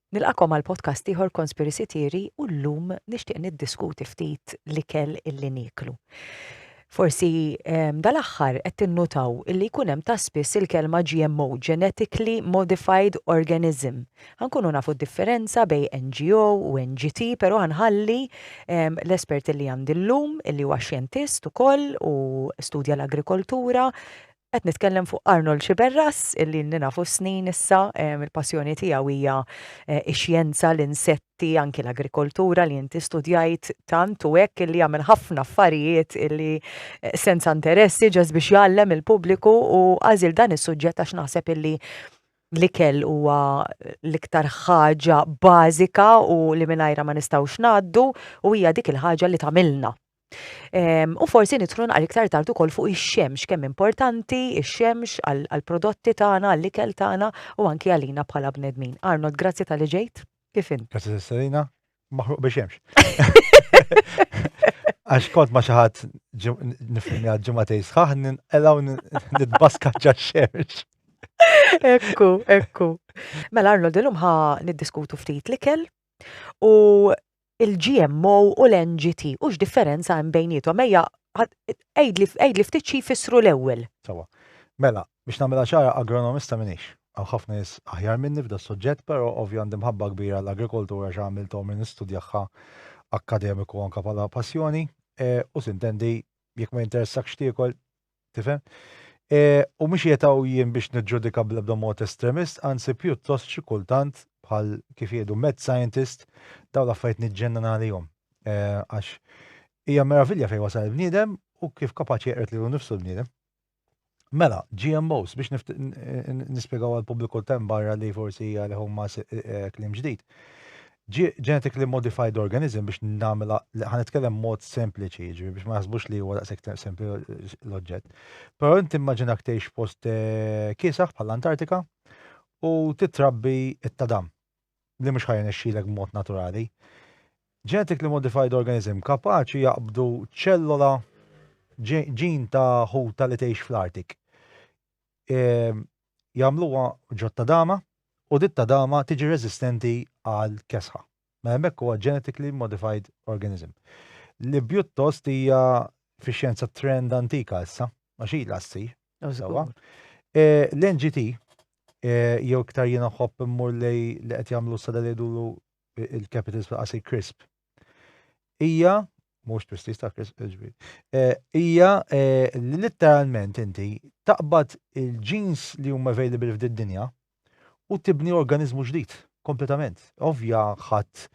Nilqagħkom għal podcast ieħor Conspiracy Theory u llum nixtieq niddiskuti ftit l-ikel illi nieklu. Forsi ehm, dal-aħħar qed tinnutaw illi jkun hemm ta' spiss il-kelma GMO, Genetically Modified Organism. Ħankunu nafu d-differenza bej NGO u NGT, però ħanħalli ehm, l-espert illi għandi llum, illi huwa xjentist ukoll u studja l-agrikoltura, Qed nitkellem fuq Arnold Sciberras, illi ilni nafu snin issa, il-passjoni tiegħu hija eh, ix-xjenza, l-insetti, anki l-agrikoltura li inti studjajt tant u hekk illi jagħmel ħafna affarijiet illi eh, senza interessi ġas biex jgħallem il-pubbliku u għażil dan is-suġġett għax naħseb illi l-ikel huwa l-iktar ħaġa bażika u li mingħajra ma nistgħux ngħaddu u hija dik il-ħaġa li tagħmilna U forsi nidħlu naqra iktar tard ukoll fuq ix-xemx, kemm importanti ix-xemx għall-prodotti tagħna, għall-ikel tagħna u anki għalina bħala bnedmin. Arnold, grazzi tal-li ġejt. Kif int? Grazzi Sessalina, maħruq biex xemx. Għax kont ma xaħat nifilmi għad ġumatej sħaħ, nelaw nitbaska ġa xemx. Ekku, ekku. Mela Arnold, l-lum ħa niddiskutu ftit l-ikel u il-GMO u l-NGT u x'differenza hemm bejnietom. Ejja, għajdli ftit xi jfissru l-ewwel. Sawa. Mela, biex nagħmilha ċara agronomista minix. Hawn ħafna nies aħjar minni f'da s-suġġett, però ovvju għandi mħabba kbira għall-agrikoltura għax għamilt għomri nistudjahha akkademiku anke bħala passjoni u sintendi jekk ma jinteressakx tiekol, Tifhem? E, u mhux jetaw jien biex niġġudika bl-ebda mod estremist, anzi pjuttost xi kultant bħal kif jgħidu mad scientist daw l-affarijiet niġġennan għalihom. E, għax hija meravilja fejn wasal il-bniedem u kif kapaċi jeqret lilu nifsu l-bniedem. Mela, GMOs, biex nispiegaw għal pubbliku tem barra li forsi hija li huma eh, eh, klim ġdid. Genetically modified organism biex nagħmilha ħa nitkellem mod sempliċi, jiġri biex ma jaħsbux li huwa daqshekk sempli l-oġġett. Però inti immaġinak tgħix post eh, kiesaħ bħall-Antartika u titrabbi it-tadam li mhux ħajja nexxilek b'mod naturali. Genetically modified organism kapaċi jaqbdu ċellola ġin ta' ħuta li tgħix fl-Artik. Ehm, jagħmluha ġott ta' dama u dit ta' dama tiġi reżistenti għall-kesħa. Mela hemmhekk huwa genetically modified organism. Li pjuttost hija fix-xjenza trend antika issa, għax ilha ssir. Sewwa. L-NGT jew iktar jiena nħobb immur lej li qed jagħmlu sada li jgħidulu il-capitals fil-qasir crisp. Hija mhux twistis ta' ġbir. Eh, hija eh, li litteralment inti taqbad il-ġins li huma available f'did-dinja u tibni organizmu ġdid kompletament. Ovvja ħadd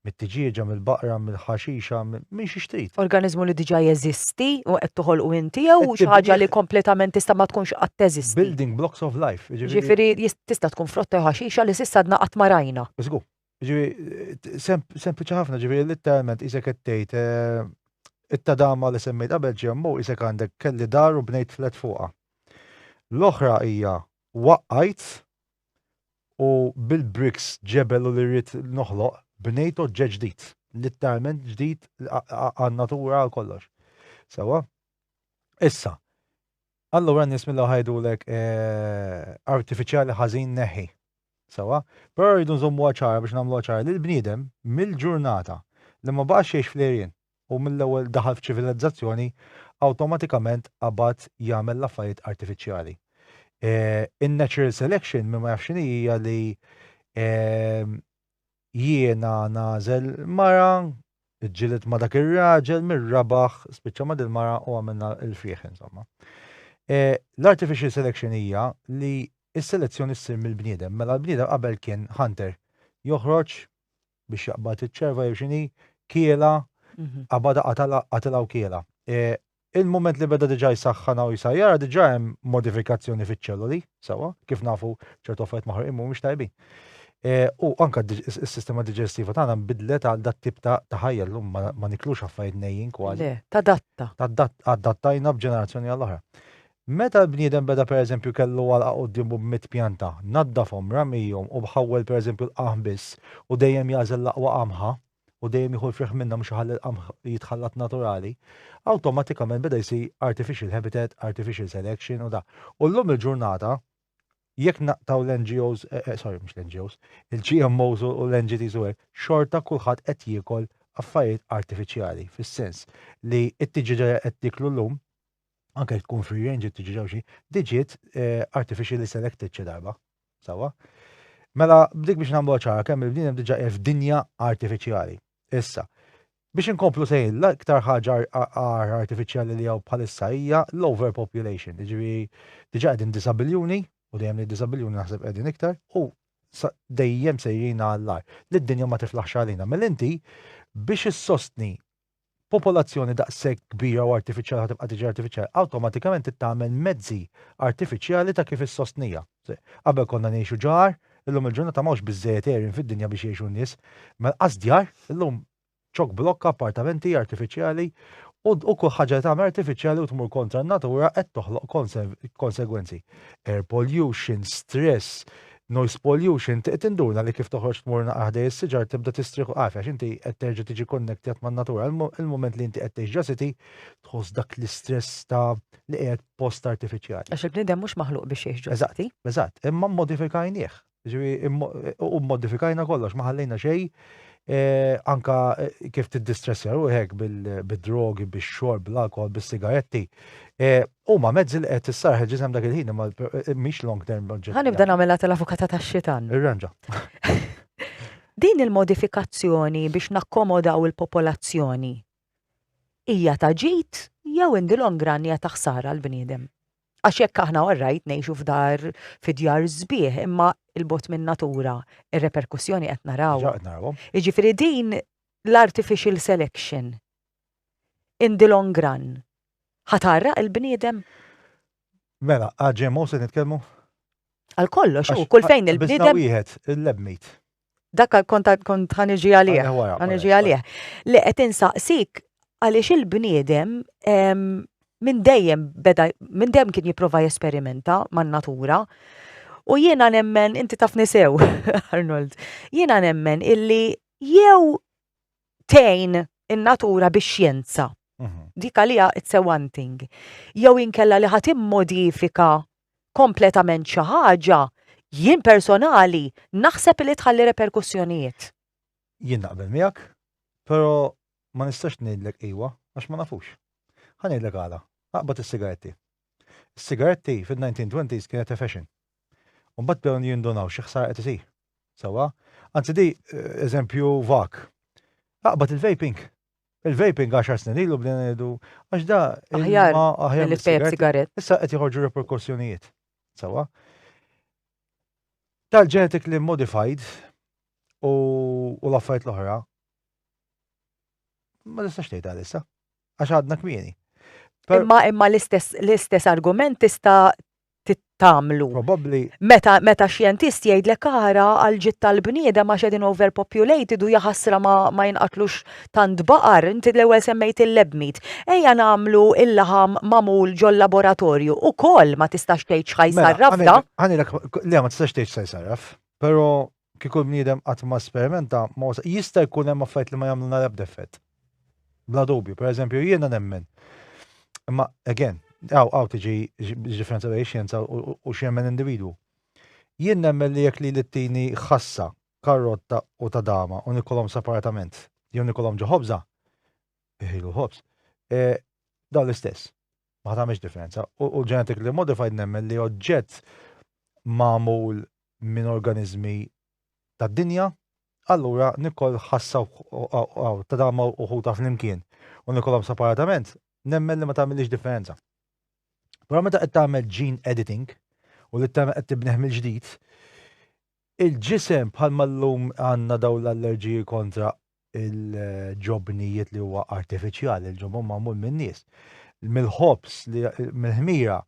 mit-tiġieġa, mill-baqra, mill-ħaxixa, minn xi xtrit. Organizmu li diġà jeżisti u qed toħolqu inti jew xi ħaġa li kompletament tista' ma tkunx qatt teżisti. Building blocks of life. Jiġifieri, jiġifieri tista' tkun frotta jew ħaxixa li s'issa għadna qatt ma rajna. Żgur. Ġifieri sempliċi ħafna, ġifieri litteralment isek qed tgħid it-tadama li semmejt qabel ġemmu isek għandek kelli dar u bnejt flet fuqha. L-oħra hija waqqajt u bil-bricks ġebel u li rrid noħloq bnejt oġġett ġdid, litteralment ġdid għan-natura għal kollox. Sewa? Issa, Allura n-nies mill ewwel ħajdulek artifiċjali ħażin neħħi. Sewa, però rridu nżommuha ċara biex nagħmluha ċara li l-bniedem mill-ġurnata li ma baqax jgħix fl-għerien u mill-ewwel daħal f'ċivilizzazzjoni awtomatikament qabad jagħmel l-affarijiet artifiċjali. In-natural selection min ma jafx x'inhi hija li Jiena nagħżel mara, ġġieled ma' dak ir-raġel, min rabaħ spiċċa ma' dil-mara u għamilna l-frieħ insomma. L-artificial selection hija li s-selezzjoni ssir mill-bniedem, mela l-bniedem qabel kien hunter, joħroġ biex jaqbad iċ-ċerva jew x'inhi, kielha, qabadha qatilha u kielha. Il-mument li beda diġà jsaħħanha u jsajjarha ara diġà hemm modifikazzjoni fiċ-ċelloli, sewwa, kif nafu ċertu affarijiet maħruqin mhumiex tajbin. Eh, u anke s-sistema diġestiva tagħna nbidlet għal dat tip ta' ħajja llum ma niklux affarijiet nejjin kważi. Tadatta. Adattajna b'ġenerazzjoni għall-oħra. Meta l-bniedem beda pereżempju kellu għal qudiemu b'mit pjanta, naddafhom, ramijhom u bħawwel pereżempju l-qaħm biss u dejjem jażel l-aqwa qamħa, u dejjem jieħu l-friħ minnhom biex iħalli l-qamħ jitħallat naturali, awtomatikament beda jsir artificial habitat, artificial selection u da. U llum il-ġurnata jekk naqtaw l-NGOs, eh, eh, sorry, mux l-NGOs, il-GMOs u l-NGTs u għek, xorta kullħat qed jiekol affarijiet artifiċjali, fis-sens li t-tiġiġa qed tiklu l-lum, anke tkun free range t-tiġiġa xi, diġiet eh, artificially selected xi darba. Sewwa. Mela, b'dik biex nagħmluha ċara kemm il-bniedem hemm diġà qiegħed f'dinja artifiċjali. Issa, Biex inkomplu sejn, l-iktar ħaġa għar artifiċjali li hawn bħalissa hija l-overpopulation, jiġifieri diġà qegħdin disa' biljuni, u dejjem li disa' biljuni naħseb qegħdin iktar, u dejjem sejrin għall-għar. Li d-dinja ma tiflaħx għalina. Mela inti biex issostni Popolazzjoni daqshekk kbira u artifiċjali ħa tibqa' tiġi artifiċjali, awtomatikament trid tagħmel mezzi artifiċjali ta' kif issostniha. Qabel konna ngħixu ġar, illum il-ġurnata m'hawnx biżżejjed għerien fid-dinja biex jgħixu n-nies. Ma lqas djar, illum ċokblokka, appartamenti artifiċjali u u kull ħaġa li tagħmel artifiċjali u tmur kontra n-natura qed toħloq konsegwenzi. Air pollution, stress, Noise pollution, trid tinduna li kif toħroġ tmur naqra ħdej is-siġar tibda tistrieħ u għafja għax inti qed terġa' tiġi konnektjat man-natura. Il-mument li inti qed tgħix ġa city tħoss dak l-istress ta' li qiegħed post artifiċjali. Għax il-bniedem mhux maħluq biex jgħix ġo city. Eżatt, eżatt, imma mmodifikajnieh. Jiġifieri u mmodifikajna kollox, ma ħallejna xejn anke kif tiddistressja ruħek bid-drogi, bix-xorb, bl-alkoħol, bis-sigaretti. Huma mezzi li qed issarrħ il-ġisem dak il-ħin imma mhix long term oġġettiva. Ħa nibda nagħmilha tal-avukata tax-xitan. Irranġa. Din il-modifikazzjoni biex nakkomodaw il-popolazzjoni hija ta' ġid jew in the long run hija ta' ħsara l-bniedem. Għax jekk aħna orrajt ngħixu f'dar fi djar sbieħ imma il-bot minn natura ir-reperkussjoni qed naraw. Ġaqt naraw. Jiġifieri din l-artificial selection in the long run Ħa tgħarraq il-bniedem? Mela, għal GMO se nitkellmu? Għal kollox, u kull fejn il-bniedem. Wieħed, il-lebmit. Dak kont kont ħaniġi għalih. Ħaniġi għalih. Li qed insaqsik għaliex il-bniedem minn dejjem beda minn dejjem kien jipprova jesperimenta man-natura. U jiena nemmen, inti taf nisew, Arnold, jiena nemmen illi jew tgħin in-natura bix-xjenza. Mhm. Dik għalija it's a one thing. Jew inkella li ħadd immodifika kompletament xi ħaġa, jien personali naħseb li tħalli reperkussjonijiet. Jien naqbel miegħek, però ma nistax ngħidlek iwa għax ma nafux. Ħa ngħidlek għala, aqbad is-sigaretti. Is-sigaretti fin-1920s kienet fashion. U mbagħad bdew jindunaw xi ħsara qed isir. Sewwa? Anzi di eżempju vak. Aqbad il-vaping. Il-vaping 10 snin ilu bdejna ngħidu għax da aħjar aħjar li tejb sigarett. Issa qed joħorġu reperkussjonijiet. Sewwa? Tal-genetically modified u l-affarijiet l-oħra ma nistax tgħid għalissa. għax għadna kmieni. Imma imma l-istess argument tista' tittamlu. Probabbli. Meta meta xjentist jgħidlek ara għal ġid tal-bniedem għax qegħdin overpopulated u jaħasra ma, ma jinqatlux tant baqar, inti l-ewwel semmejt il-lebmit. Ejja nagħmlu il-laħam mamul ġol-laboratorju u koll ma tistax tgħid xħaj mela, sarraf da. Ħanilek, le ma tistax tgħid xħaj sarraf, pero Kieku l-bniedem qatt ma sperimenta, ma wasal. Jista' jkun hemm affarijiet li ma jagħmlulna l-ebda effett. Bla dubju. Per eżempju, jiena nemmen, imma again, hawn hawn tiġi differenza bejn ix-xjenza u x'jemmen individwu. Jien nemmen li jekk lili ttini ħassa, karrotta u tadama u nikolhom separatament, jew nikolhom ġo ħobża, iħilu l-ħobż, dawn l-istess. Ma ħa tagħmilx differenza. U l-genetically modified nemmen li oġġett magħmul minn organiżmi tad-dinja, allura Nicole ħassha u ta' ma' uħudha flimkien u Nicolhom separatament, nemmen li ma tagħmillix differenza. Però meta qed tagħmel gene editing u li t-tana qed tibnieh mill-ġdid, il-ġisem bħalma llum għandna dawn l-allerġiji kontra l-ġobnijiet li huwa artifiċjali, il-ġobon magħmul min-nies, mill-ħobż, mill-ħmira,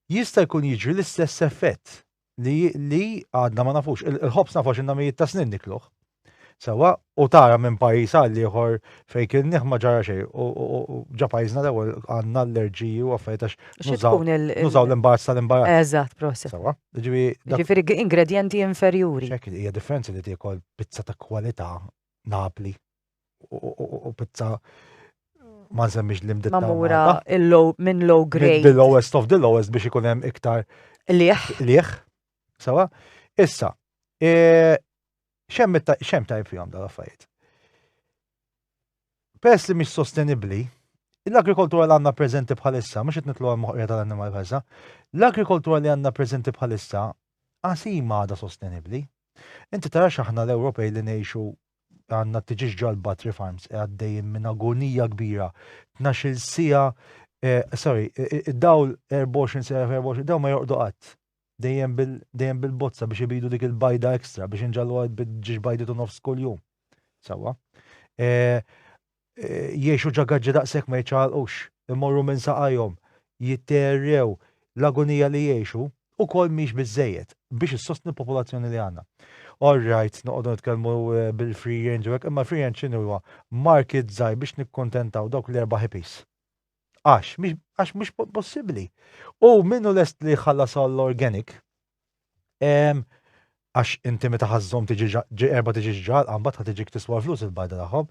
jista' jkun jiġri l-istess effett li li għadna ma nafux, il-ħobs nafu xinna mijiet ta' snin nikluħ. Sawa, u tara minn pajis għal ieħor fejn kien nieħ ma ġara xejn, u ġa pajjiżna l-ewwel għandna allerġiji u affarijiet għax nużaw l-imbarazz tal-imbarazz. Eżatt, proset. Sawa, ġifi. Ġifieri ingredienti inferjuri. Ċekki, hija differenza li tiekol pizza ta' kwalità Napli. u pizza ma nsemmix li mditta. Mamura minn low grade. The lowest of the lowest biex ikun hemm iktar. Liħ. Liħ. Sawa? Issa, e, xem ta' jifjom da' affarijiet. Pers li mhix sostenibbli, l-agrikoltura li għandna preżenti bħalissa, mhux qed nitlu għal moħqija tal-annimal bħalissa, l-agrikoltura li għandna preżenti bħalissa għasima għada sostenibbli. Inti tara xaħna l-Ewropej li ngħixu għandna t-tiġieġ ġol-battery farms qiegħed dejjem minn agonija kbira. Tnax-il siegħa, sorry, id-dawl 24 siegħa f' 24, dawn ma jorqdu qatt. Dejjem bil-bozza biex ibidu dik il-bajda extra biex inġalluha bit-tġieġ bajdit u nofs kuljum. Sewwa. Jgħixu ġagaġġi daqshekk ma jiċċaqalqux, imorru minn saqajhom, jitteerrew, l-agonija li jgħixu ukoll mhix biżżejjed biex issostni l-popolazzjoni li għandna. All right, noqogħdu nitkellmu bil-free range u hekk, imma l-free range x'inhu huwa? Market żgħir biex nikkuntentaw dawk l-erba' hippies. Għax, għax mhux possibbli. U min hu lest li jħallas għall-organic, għax inti meta ħażżhom tiġi erba' tiġi ġġalqa mbagħad ħa tiġik tiswa l-flus il-bajda tagħhom.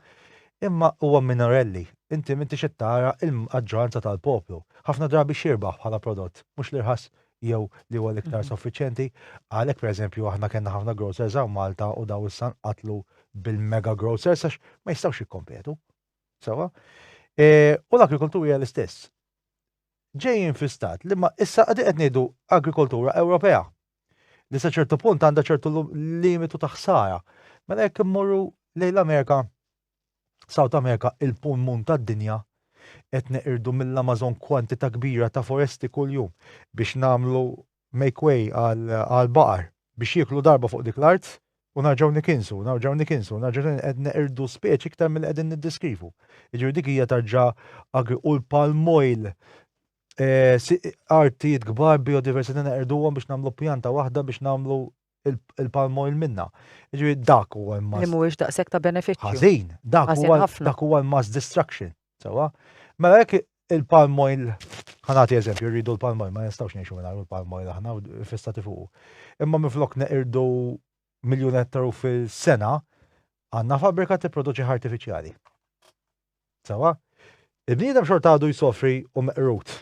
Imma huwa minorelli, inti m'intix qed tara l-maġġoranza tal-poplu. Ħafna drabi x'jirbaħ bħala prodott, mhux l-irħas jew li huwa l-iktar soffiċjenti. Għalhekk pereżempju aħna kellna ħafna grocers hawn Malta u dawn issa nqatlu bil-mega grocers għax ma jistgħux jikkompetu. Sewwa? U l-agrikoltura hija l-istess. ġejjin fi stat li ma issa qegħdin qed ngħidu agrikoltura Ewropea li sa ċertu punt għandha ċertu limitu ta' ħsara. Mela jekk immorru lejn l-Amerika, South America, il-pulmun tad-dinja, qed neqirdu mill-Amazon kwantità kbira ta' foresti kuljum biex nagħmlu make way għall-baqar biex jieklu darba fuq dik l-art u nerġgħu nikinsu, nerġgħu nikinsu, nerġgħu nikinsu, qed neqirdu speċi iktar milli qegħdin niddeskrivu. Jiġifieri dik hija tarġa agri u l-palm oil artijiet kbar biodiversità neqirduhom biex nagħmlu pjanta waħda biex nagħmlu il-palm oil minna. Ġifieri dak huwa mass. Li mhuwiex daqshekk ta' benefiċċju. Ħażin, dak huwa dak huwa mass destruction. Sewa. Mela jekk il-palm oil ħanati eżempju, rridu l-palm oil, ma nistgħux ngħixu minn il-palm oil aħna fissati fuq. Imma minflok neqirdu miljun ettaru fil-sena, għandna fabrika tipproduċi artifiċjali. Sewa. Il-bniedem xorta għadu jsofri u meqrut.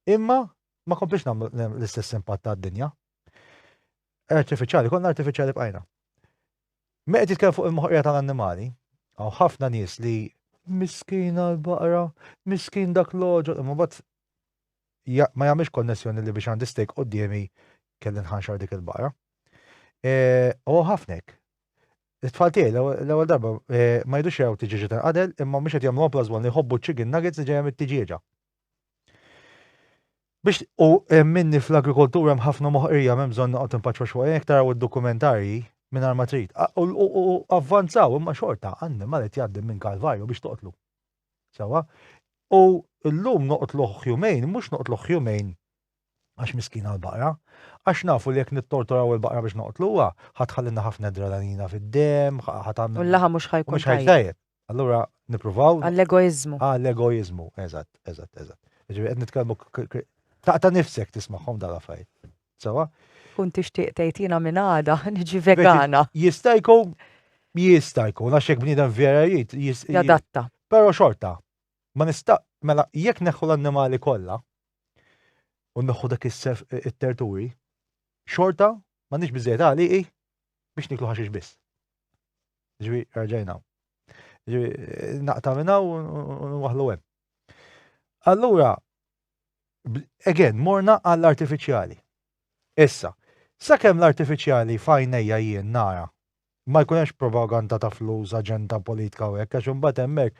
Imma ma komplix nagħmlu l-istess impatt tad-dinja. Artifiċjali, konna artifiċjali bqajna. Meqed jitkellem fuq il-moħqija tal-annimali, għaw ħafna nies li miskin għal-baqra, miskin dak l-oġo, imma bat ma jagħmilx konnessjoni li biex għandi stejk qoddimi kelli nħanxar dik il-baqra. E, u ħafnek. It-tfal tiegħi l-ewwel darba e, ma jidux jew tiġiġi tal-qadel imma mhux qed jagħmlu applazwon li jħobbu ċigin nuggets li ġejja mit-tiġieġa. Biex u minni fl-agrikoltura hemm ħafna moħqrija m'hemm bżonn noqgħod impaċċwa xwa jekk taraw id-dokumentarji mingħajr ma trid. U avvanzaw imma xorta annimal qed jgħaddi minn kalvarju biex toqtlu. Sewa? U llum noqtlu ħjumejn, mhux noqtlu ħjumejn għax miskina l-baqra, għax nafu li jekk nittortoraw il-baqra biex noqtluha, ħadd ħallilna ħafna dralanina fid-demm, ħadd għamilna. U l-laħam mhux ħajkun. Mhux ħajtajjeb. Allura nippruvaw. Għall-egoiżmu. Għall-egoiżmu, eżatt, eżatt, eżatt. Ġifieri qed nitkellmu taqta' nifsek tismagħhom dal affarijiet. Sewa? Kun tixtieq tgħid jiena minn għada niġi vegana. Jista' jkun jista' jkun għax hekk bniedem vera jrid jadatta. Però xorta, ma nista' mela jekk neħħu l-annimali kollha, u nneħħu dak is-sef it-terturi, xorta m'għandix biżejjed għaliqi biex niklu ħaxix biss. Ġifi, raġajna. Ġifi, naqta minna u nwaħlu hemm. Allura, again, morna għall-artifiċjali. Issa, sakemm l-artifiċjali fajnejja jien nara ma jkun hemmx propaganda ta' flus, aġenda politika u hekk, għax imbagħad hemmhekk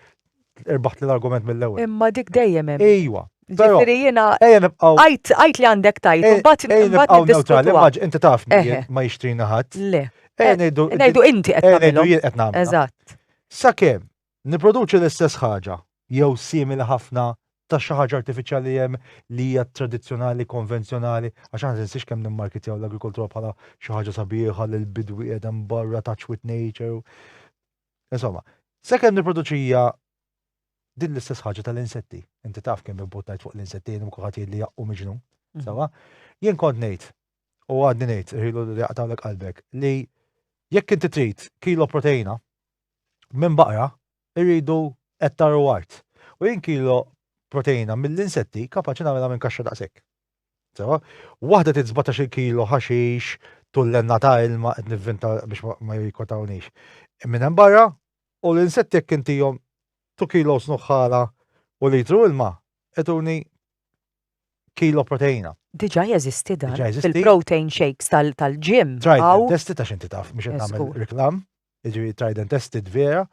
irbaħt l-argument mill-ewwel. Imma dik dejjem hemm. Ejwa. Ġifieri jiena għajt li għandek tajt, imbagħad nibqgħu neutrali, imma inti taf ma jixtrina ħadd. Le. Ngħidu inti qed tagħmel. Ngħidu jien qed nagħmel. Eżatt. Sakemm Nipproduċi l-istess ħaġa, jew simili ħafna, ta' xi ħaġa artifiċjali li hemm li hija tradizzjonali, konvenzjonali, għax aħna tinsiex kemm nimmarkitjaw l-agrikoltura bħala xi ħaġa sabiħa li l-bidwi qiegħed hemm barra touch with nature. Insomma, sakemm nipproduċi hija din l-istess ħaġa tal-insetti. Inti taf kemm input ngħid fuq l-insetti jien kulħadd jgħid li jaqqu miġnun. Mhm. Sawa? Jien kont ngħid u għadni ngħid irħilu li jaqtawlek qalbek li jekk inti trid kilo proteina minn baqra irridu ettar u art. U jien kilo proteina mill-insetti kapaċi nagħmilha minn kaxxa daqshekk. Sewa, waħda tit 17 kilo ħaxix, tullenna ta' ilma qed nivvinta biex ma jikotawniex. Minn hemm barra u l-insetti jekk intihom 2 kilo snuħħala u litru ilma ituni kilo proteina. Diġà jeżisti dan. Diġà jeżisti. Il-protein shakes tal-ġim. Try testi ta' xinti taf biex nagħmel reklam. jiġifieri tried and tested vera,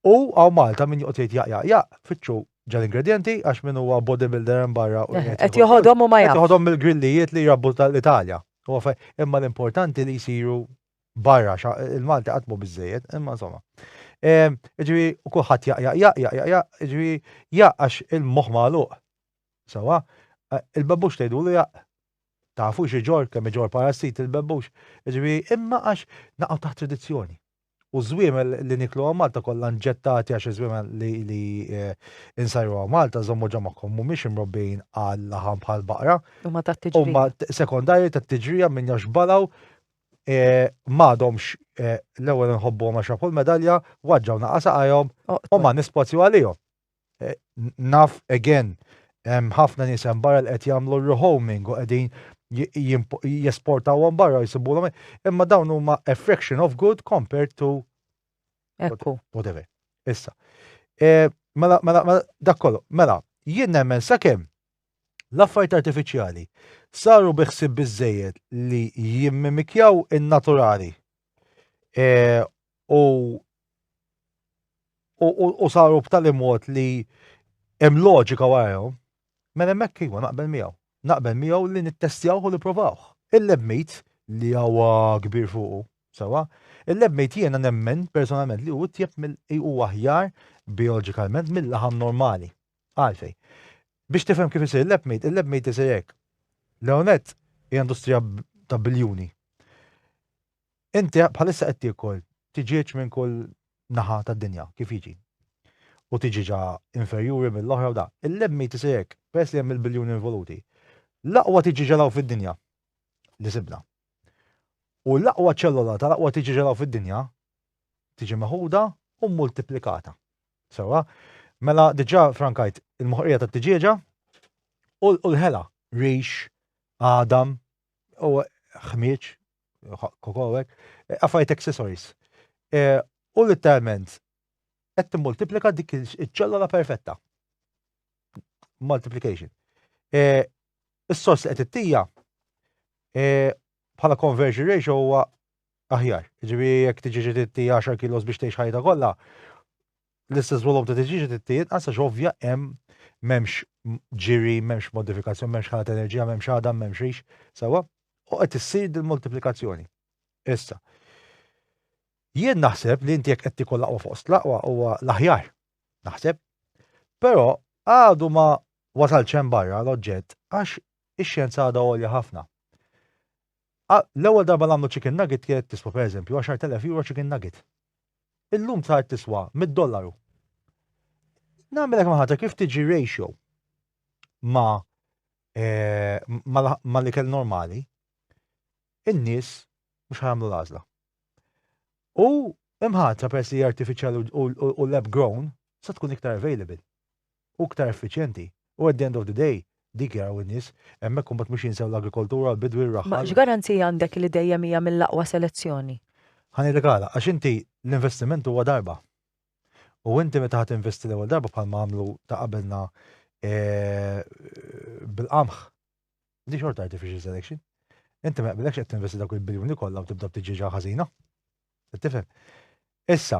u għaw Malta min joqgħod jgħid jaq jaq jaq, fitxu ġal-ingredjenti għax min huwa bodybuilder hemm barra u eh, qed joħodhom u ma jaf. Qed joħodhom mill-grillijiet li jrabbu tal-Italja. Imma l-importanti li jsiru barra il-Malti qatt mhu biżejjed, imma insomma. Ehm, ġifieri kulħadd jaq jaq jaq jaq jaq, ġifieri jaq għax il-moħħ magħluq. Sawa, eh, il-babbux tgħidu li jaq Tafu x'iġorr, kemm iġorr parassiti l-bebbux, jiġifieri imma għax naqgħu taħt tradizzjoni. U ż-żwiemel li nieklu hawn Malta kollha nġettati għax iż-żwiemel li nsajru hawn Malta, żommu ġo magħkom, mhumiex imrobbijin għal-laħam bħall-baqra. Huma tat-tiġrija. Huma sekondarji tat-tiġrija minn għax balgħu m'għadhomx l-ewwel inħobbuhom għax rafu l-medalja, waġġgħu naqas saqajhom u ma nispazju għalihom. Naf again hemm ħafna nies hemm barra li qed jagħmlu r-rehoming u qegħdin jesportawhom barra jsibulhom imma dawn huma a fraction of good compared to Ekku. Whatever. Issa. E, mela, mela, mela, dak kollu, mela, jien nemmen sakemm l-affarijiet artifiċjali saru biħsib biżejjed li jimmimikjaw in-naturali e, u u saru b'tali mod li hemm loġika warahom, mela hemmhekk iva naqbel miegħu. Naqbel miegħu li nittestjawh u nipprovawh. Il-lebmit li huwa kbir fuqu, sewa, il-lebmit jiena nemmen personalment li hu tjeb mill huwa aħjar bioloġikalment mill-laħam normali. Għalfej. Biex tifhem kif isir il-lebmit, il-lebmit isir hekk. L-ewnet hija industrija ta' biljuni. Inti bħalissa qed tiekol tiġieġ minn kull naħa tad-dinja, kif jiġi. U tiġieġa inferjuri mill-oħra u da. Il-lemmit isir hekk, peress li hemm il-biljuni involuti. L-aqwa tiġieġa l-hawn fid-dinja li sibna. U l-aqwa ċellola tal-aqwa tiġieġa l-hawn fid-dinja tiġi meħuda u mmultiplikata. Sewwa? Mela diġà frankajt il-moħqrija tat-tiġieġa u l-ħela, rix, għadam, u ħmieġ, kokowek, affarijiet accessories. Eh, u literalment, qed timmultiplika dik iċ-ċellola perfetta. Multiplication. Eh, is-sors li qed ittija eh, bħala conversion ratio huwa aħjar. Ġivi jekk tiġi ġiditti 10 kilos biex tgħix ħajta kollha, L-istess volum ta' tiġiġi trid tinqas għax ovvja hemm m'hemmx ġiri, m'hemmx modifikazzjoni, m'hemmx ħana ta' enerġija, m'hemmx għadam, m'hemmx rix, sewwa? U qed issir dil-multiplikazzjoni. Issa, jien naħseb li inti jekk qed tikol laqwa fost laqwa huwa l-aħjar, naħseb. Però għadu ma wasalx hemm barra l-oġġett għax ix-xjenza għadha għolja ħafna. L-ewwel darba li għamlu chicken nugget kienet tiswa, pereżempju, għaxart elef euro chicken nugget. Illum saret tiswa mitt dollaru. Nagħmilek maħatra kif tiġi ratio ma' ma' l-ikel normali, in-nies mhux ħa jagħmlu l-għażla. U imħatra peress li hija artifiċjali u lab grown, se tkun iktar available. u iktar effiċjenti. U at the end of the day, dik jaraw in-nies, hemmhekk imbagħad mhux jinsew l-agrikoltura, l-bidwi, r-raħħal. Ma x'garanziji għandek li dejjem hija mill-aqwa selezzjoni? Ħa ngħidlek għala, għax inti l-investiment huwa darba. U inti meta ħa tinvesti l-ewwel darba bħalma għamlu ta' qabelna bil-qamħ, di xorta artificial selection. Inti ma jaqbilekx qed tinvesti dawk il-biljuni kollha u tibda b'tiġieġa ħażina. Qed tifhem? Issa,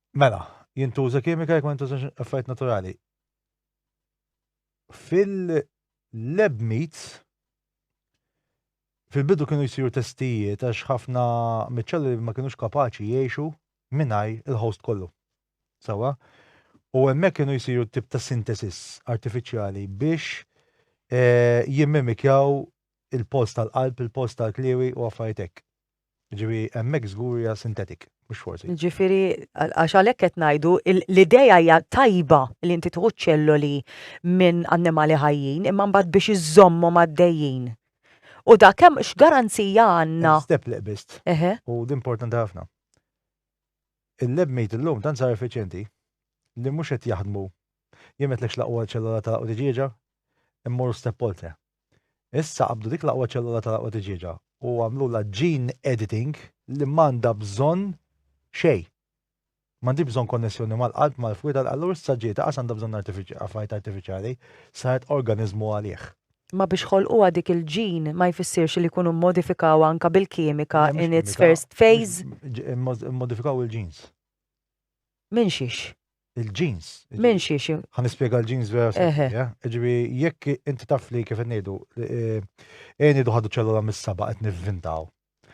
Mela, jintuża kimika jekk ma jintużax affarijiet naturali. Fil-lab meats, fil-bidu kienu jsiru testijiet għax ħafna miċ-ċelluli ma kinux kapaċi jgħixu mingħajr il-host kollu. Sewwa? U hemmhekk kienu jsiru tip ta' sintesis artifiċjali biex eh, jimmimikjaw il-post tal-qalb, il-post tal-kliewi u affarijiet hekk. Jiġifieri hemmhekk żgur hija synthetic, mhux forsi. Jiġifieri għax għalhekk qed ngħidu l-idea hija tajba li inti tieħu ċelloli minn annimali ħajjin imma mbagħad biex iżżommhom għaddejjin. U dak hemm x'garanzija għandna? Step li qbiżt. U din importanti ħafna. Il-lab meat illum tant sar effiċjenti li mhux qed jaħdmu jien qedtlek x'laqwa ċellola ta' u tiġieġa immorru step oltre. Issa qabdu dik l-aqwa ċellola tal-aqwa tiġieġa u għamlulha gene editing li m'għandha bżonn xejn. M'għandhiex bżonn konnessjoni mal-qalb, mal-fwied, allura issa ġiet anqas għandha bżonn affarijiet artifiċjali, saret organiżmu għalih. Ma biex ħolquha dik il-gene ma jfissirx li jkunu mmodifikawha anke bil-kimika in its first phase? Immodifikaw il-genes. Minn xiex? Il-ġins. Minn xiex? Ħa nispjega l-ġins vera seħħa. Ġibi, jekk inti taf li kif ngħidu, eh, eh, ngħidu ħadu ċellula mis-saba qed nivvintaw.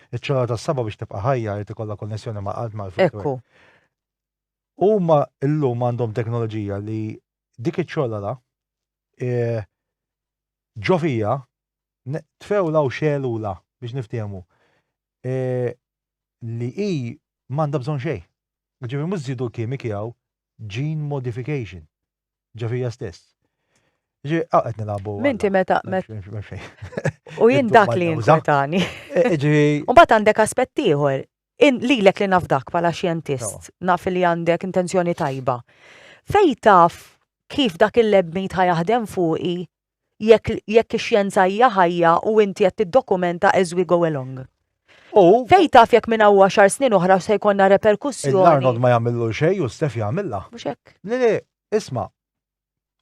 Iċ-ċellula tas-saba biex tibqa' ħajja jrid ikollha konnessjoni ma' qalb ma' Ekku. Huma llum għandhom teknoloġija li dik iċ-ċellula eh, ġofija tfewla u xelula biex niftehmu. li hi m'għandha bżonn xejn. Ġifieri mhux żidu l-kimiki hawn, gene modification ġo fija stess. Ġifieri hawn qed nilagħbu. Minti meta U jien dak li jinkwetani. Ġifieri. U mbagħad għandek aspett ieħor. Lilek li naf dak bħala xjentist, naf li għandek intenzjoni tajba. Fejn taf kif dak il-lab meat ħa jaħdem fuqi jekk jekk ix-xjenza hija ħajja u inti qed tiddokumenta as we go along. U Fejn taf jekk minn hawn għaxar snin oħra se jkollna reperkussjoni. l-Arnold ma jagħmillu xejn u Steph jagħmilha. Mhux hekk. Le le, isma',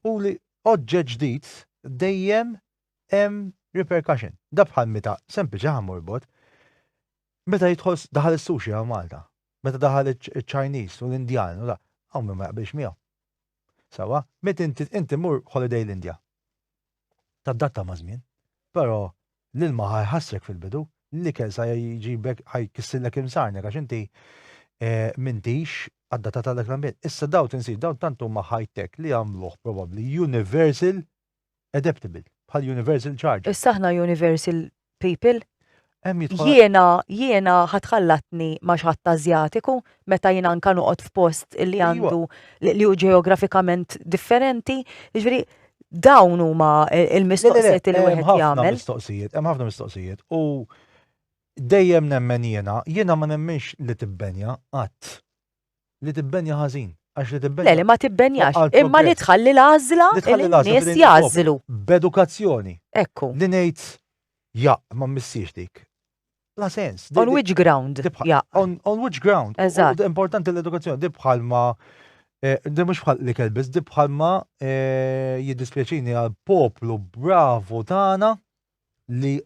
u li oġġett ġdid dejjem hemm repercussion. Da bħal meta sempliċi ħa morbot. Meta jidħol daħal is-sushi hawn Malta, meta daħal iċ-Chinese u l-Indjan u da, hawn min ma jaqbilx miegħu. Sewwa, meta inti inti mmur holiday l-Indja. Tadatta maż-żmien. Però l-ilma ħa jħassrek fil-bidu, l-ikel sa jġibek ħa jkissirlek imsarnek għax inti m'intix adattat għal dak l-ambjent. Issa dawn tinsid dawn tant huma high-tech li għamluh probabbli universal adaptable, bħal universal charger. Issa aħna universal people? Jiena, jiena ħatħallatni ma xħat azjatiku, meta jiena anka noqgħod f'post li għandu li hu ġeografikament differenti, jiġri dawn huma e, il-mistoqsijiet li wieħed jagħmel. Hemm ħafna mistoqsijiet, hemm ħafna mistoqsijiet u dejjem nemmen jiena, jiena ma nemmenx li tibbenja qatt Li tibbenja ħażin, għax li tibbenja. Le, li ma tibbenjax, imma li tħalli l-għażla li n-nies jagħżlu. B'edukazzjoni. Ekku. Li ngħid jaqq ma mmissiex dik. La sens. On which ground? On which ground? Eżatt. Importanti l-edukazzjoni, di bħalma eh, di mhux bħal li kelbis, di bħalma eh, jiddispjaċini għal poplu bravo tagħna li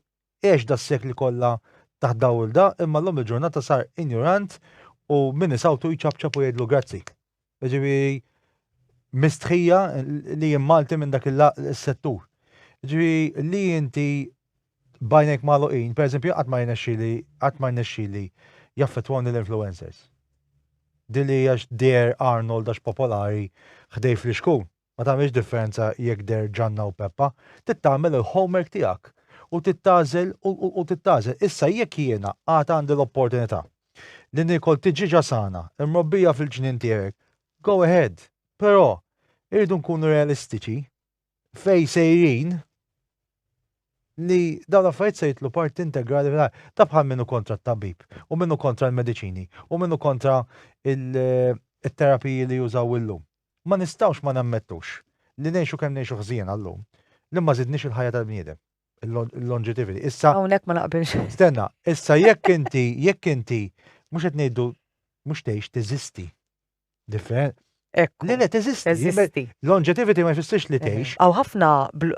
għex das-sekli kollha taħt dawilda imma llum il-ġurnata sar injurant u min isawtu jċapċap u jgħidlu grazzi. Ġifieri mistħija li jien Malti minn dak il-settur. Ġifieri li inti bajnek maluqin, per eżempju, qatt ma jnexxili, qatt ma jnexxili jaffettwani l-influencers. Dili għax der Arnold għax popolari ħdej fl-iskun. Ma tagħmilx differenza jekk deher Ġanna u Peppa, trid tagħmel il-homework tiegħek u trid tagħżel u trid tagħżel. Issa jekk jiena għad għandi l-opportunità li niekol tiġieġa sana imrobbija fil-ġnien tiegħek, go ahead. Però irridu nkunu realistiċi fejn sejrin li dawn l-affarijiet se jitlu parti integrali fil Ta' bħal min hu kontra t-tabib u min hu kontra l-mediċini u min hu kontra il-terapiji li jużaw illum. Ma nistgħux ma nammettux li ngħixu kemm ngħixu ħżiena llum, li ma żidniex il-ħajja tal-bniedem, il-longevity. Issa. Hawnhekk ma naqbilx. Stenna, issa jekk inti, jekk inti, mhux qed ngħidu mhux tgħix teżisti. Different. Ekk. Le, le, teżisti. Teżisti. Longevity ma jfissirx li tgħix. Aw ħafna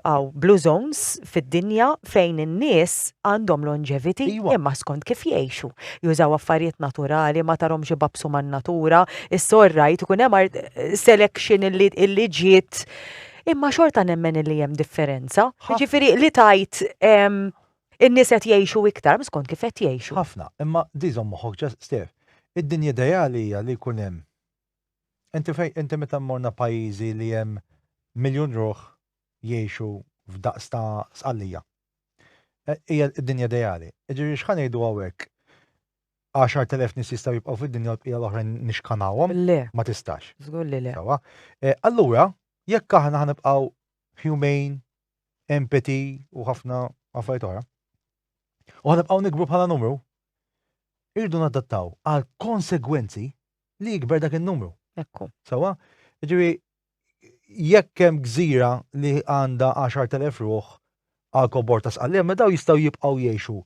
aw blue zones fid-dinja fejn in-nies għandhom longevity imma skont kif jgħixu. Jużaw affarijiet naturali, ma tarhomx ibabsu man-natura, issa all right ikun hemm selection illi ġiet imma xorta nemmen illi hemm differenza. Jiġifieri li tgħid in-nies qed jgħixu iktar mhux skont kif qed jgħixu. Ħafna, imma di żomm moħħok ġa Stev, id-dinja ideali hija li jkun hemm inti fejn inti meta mmorna pajjiżi li hemm miljun ruħ jgħixu f'daqs ta' Sqallija. Hija d-dinja ideali. Jiġifieri x'ħa ngħidu hawnhekk? 10,000 nies jistgħu jibqgħu fid-dinja u l-bqija l-oħrajn nixkanawhom? Le. Ma tistax. Żgur li le. Sewwa. Allura, jekk aħna ħa nibqgħu humane, empathy u ħafna affarijiet oħra, u ħa nibqgħu nikbru bħala numru, irridu nadattaw għal konsegwenzi li jikber dak in-numru. Ekku. Sewwa? Jiġifieri jekk hemm gżira li għandha 10,000 ruħ għal kobor ta' sqallija, ma daw jistgħu jibqgħu jgħixu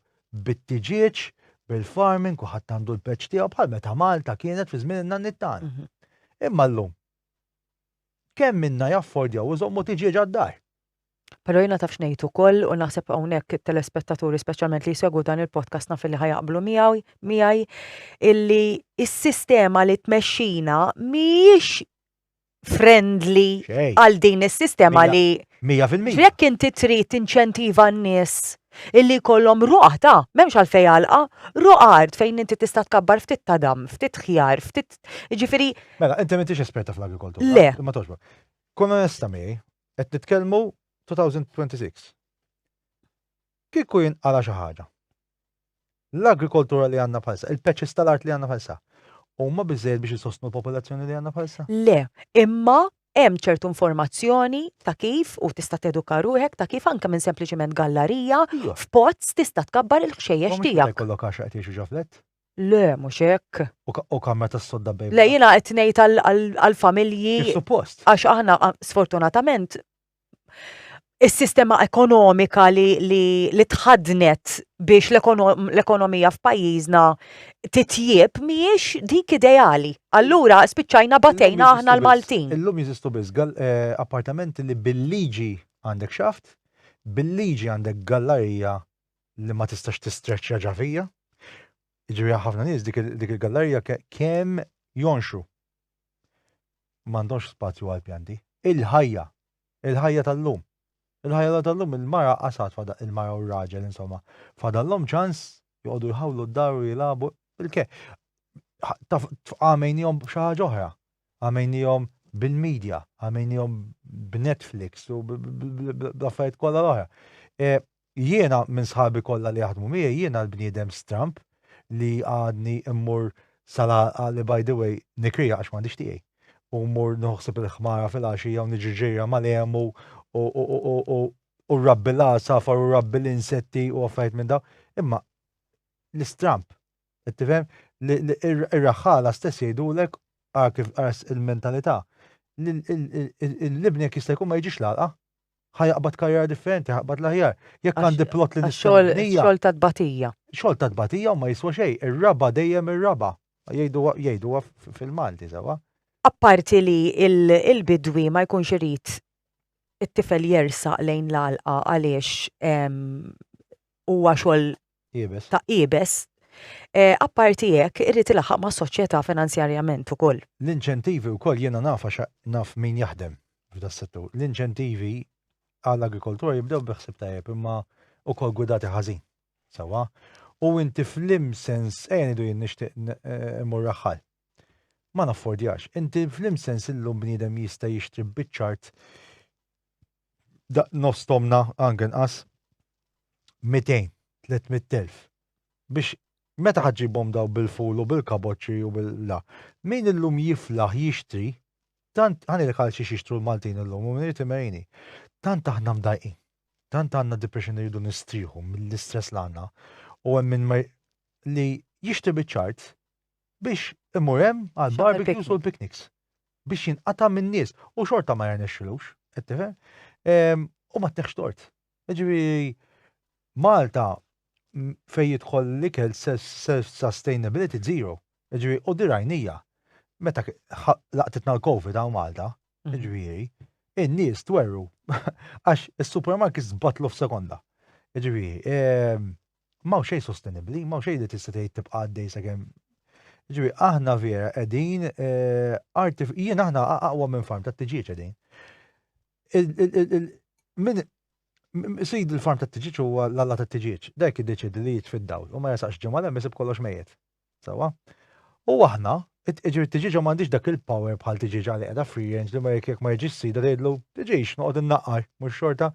bit-tiġieġ, bil-farming, kulħadd għandu l-peċ tiegħu bħal meta Malta kienet fi żmien in-nanni tagħna. Mhm. Imma llum kemm minna jaffordjaw iżommu tiġieġ għad-dar. Pero jina taf xnejt u koll u naħseb għonek telespettaturi specialment li jsegu dan il-podcast naf li ħajaqblu miegħi illi s-sistema li tmexxina miex friendly għal din is-sistema li 100%. Jekk inti trid inċentiva n-nies illi jkollhom ruq ta' m'hemmx għalfejn għalqa, ruq art fejn inti tista' tkabbar ftit ta' dam, ftit ħjar, ftit ġifieri. Mela, inti m'intix esperta fl-agrikoltura. Le. Ma toġbok. Kun onesta miegħi, qed nitkellmu 2026. Kieku jinqala' xi ħaġa. L-agrikoltura li għandna bħalissa, il-patches tal-art li għandna bħalissa, huma biżżejjed biex isostnu l-popolazzjoni li għandna bħalissa? Le, imma hemm ċertu informazzjoni ta' kif u tista' teduka ruħek ta' kif anke minn sempliċement gallarija f'pots tista' tkabbar il-ħxejjex tiegħek. Mhux jkollok għax qed jgħixu ġo flett? Le, mhux hekk. U kamra tas-sodda bejn. Le jiena qed ngħid għall-familji. Kif suppost. Għax aħna sfortunatament is-sistema ekonomika li, li, li tħadnet biex l-ekonomija f'pajjiżna titjieb mhijiex dik ideali. Allura spiċċajna batejna aħna l-Maltin. Illum jeżistu biss eh, appartamenti li bil-liġi għandek xaft, bil-liġi għandek gallarija li ma tistax tistreċċja ġafija. Ġifieri ħafna nies dik il-gallarija kemm jonxu m'għandhomx spazju għall-pjanti. Il-ħajja, il-ħajja tal-lum, il-ħajja tal-lum il-mara qasad fada il-mara u r-raġel insomma fadallhom ċans joqogħdu jħawlu d-dar u jilagħbu il-ke. Għamejnihom b'xi ħaġa oħra, għamejnihom bil-medja, għamejnihom b'Netflix u bl-affarijiet kollha l-oħra. E, Jiena minn sħabi kollha li jaħdmu miegħi jiena l-bniedem stramb li għadni mmur sal-għalqa li by the way nikriha għax m'għandix tiegħi u mmur nieħu ħsieb il-ħmara fil-għaxija u niġri ġirja mal-għemu u rabbi l-għasafar u rabbi l-insetti u affarijiet minn dawn. Imma l-istramp, qed tifhem li ir-raħħala stess jgħidulek ara kif il-mentalità l-ibni jekk jista' jkun ma jiġix l-għalqa ħajaqbad karriera differenti, ħaqbad l-aħjar. Jekk għandi plot li nixxol. Xol ta' tbatija. Xol ta' tbatija u ma jiswa xej, ir-raba dejjem ir-raba. Jgħidu fil-Malti, sewa. Apparti li il-bidwi ma jkunx irid it-tifel jersaq lejn l-alqa għaliex huwa xogħol Iebes. Ta' iebes. Apparti hekk, irid ilaħħaq mas-soċjetà finanzjarjament ukoll. L-inċentivi wkoll, jiena naf għax naf min jaħdem f'das-settur, l-inċentivi għall-agrikoltura jibdew bi ħsieb tajjeb imma wkoll gwidati ħażin. Sewwa? U inti fl-im sens, ejja ngħidu jien nixtieq immur raħħal. Ma naffordjax. Inti fl-im sens illum bniedem jista' jixtri biċċ art nofs tomna angen qas 200, 300.000 biex meta ħadġibhom daw bil-ful u bil-kaboċċi u bil-la. Min illum jiflaħ jixtri, tant ħanilek għal xiex jixtru l-Maltin illum u minni timerini. Tant aħna mdajqin, tant għandna depression li rridu nistrieħu mill-istress l għandna u hemm minn li jixtri biċ-ċart biex imur hemm għal barbecues u l-pikniks. biex jinqata' min-nies u xorta ma jirnexxilux, qed tifhem? Ehm, u ma tneħx tort. Ġifieri Malta fejn jidħol l-ikel self-sustainability zero. Ġifieri u dirajnija meta laqtitna l-COVID għaw Malta, mhm. ġifieri, in-nies twerru għax is-supermarkets batlu f'sekonda. Ġifieri, ehm, M'hawn xejn sostenibbli, m'hawn xejn li tista' tgħid tibqa' għaddej sakemm Ġifi, aħna vera qegħdin eh, jien aħna aqwa minn farm ta' tiġieġ qegħdin. Min sid il-farm ta' tiġieġ huwa l-alla ta' tiġieġ, dak iddeċidi li jiġ fid-dawl u ma jasaqx ġimgħa hemm isib kollox mejjet. Sawa? U aħna, ġifi tiġieġa m'għandix dak il-power bħal tiġieġa li qiegħda free range li ma jekk ma jiġix sida tgħidlu tiġix noqgħod innaqqar mhux xorta.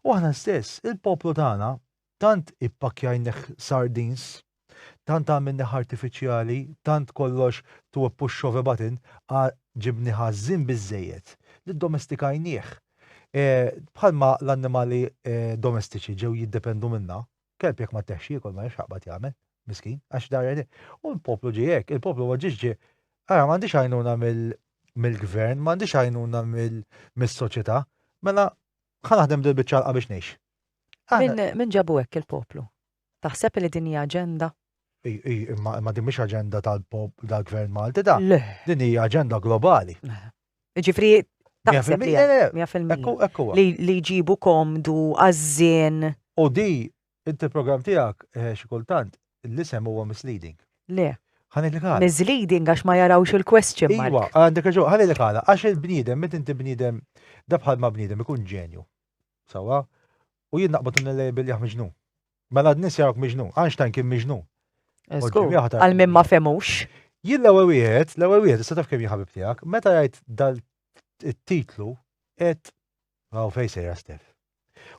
U aħna stess, il-poplu tagħna Tant ippakkjajnih sardines, tant għamilnih artifiċjali, tant kollox to a push of a button, a ġibni ħażin biżżejjed li ddomestikajnih. Bħalma l-annimali domestiċi ġew jiddependu minna, kelb jekk ma tteħx jiekol ma jafx x'jaqbad jagħmel, miskin, għax dar għedin. U l-poplu ġie hekk, il-poplu ma ġiex ġie, ara m'għandix għajnuna mill-gvern, m'għandix għajnuna mis-soċjetà, mela ħa naħdem dil-biċċa għalqa biex ngħix. Min ġabu hekk il-poplu? Taħseb li din hija aġenda? Imma din mhix aġenda tal-Gvern Malti da. Din hija aġenda globali. Ġifri, taħseb li li jġibu komdu għażżien. U di, inti program tiegħek eh, xi kultant l-isem huwa misleading. Le. Misleading għax ma jarawx il-question mark. Iwa, għandek raġun, ħalli li għala, għax il-bniedem, met inti bniedem, dabħal ma bniedem ikun ġenju. Sewwa? U jien naqbad u nillejbel jah miġnun. Mela n-nies jarawk miġnun. Einstein kien miġnun. Eh, Żgur, Ġimmy aħtar. għal min ma femux. Jien l-ewwel wieħed, l-ewwel wieħed, issa taf kemm jien ħabib tiegħek, meta jgħid dal it-titlu qed raw fejn sejra Stef.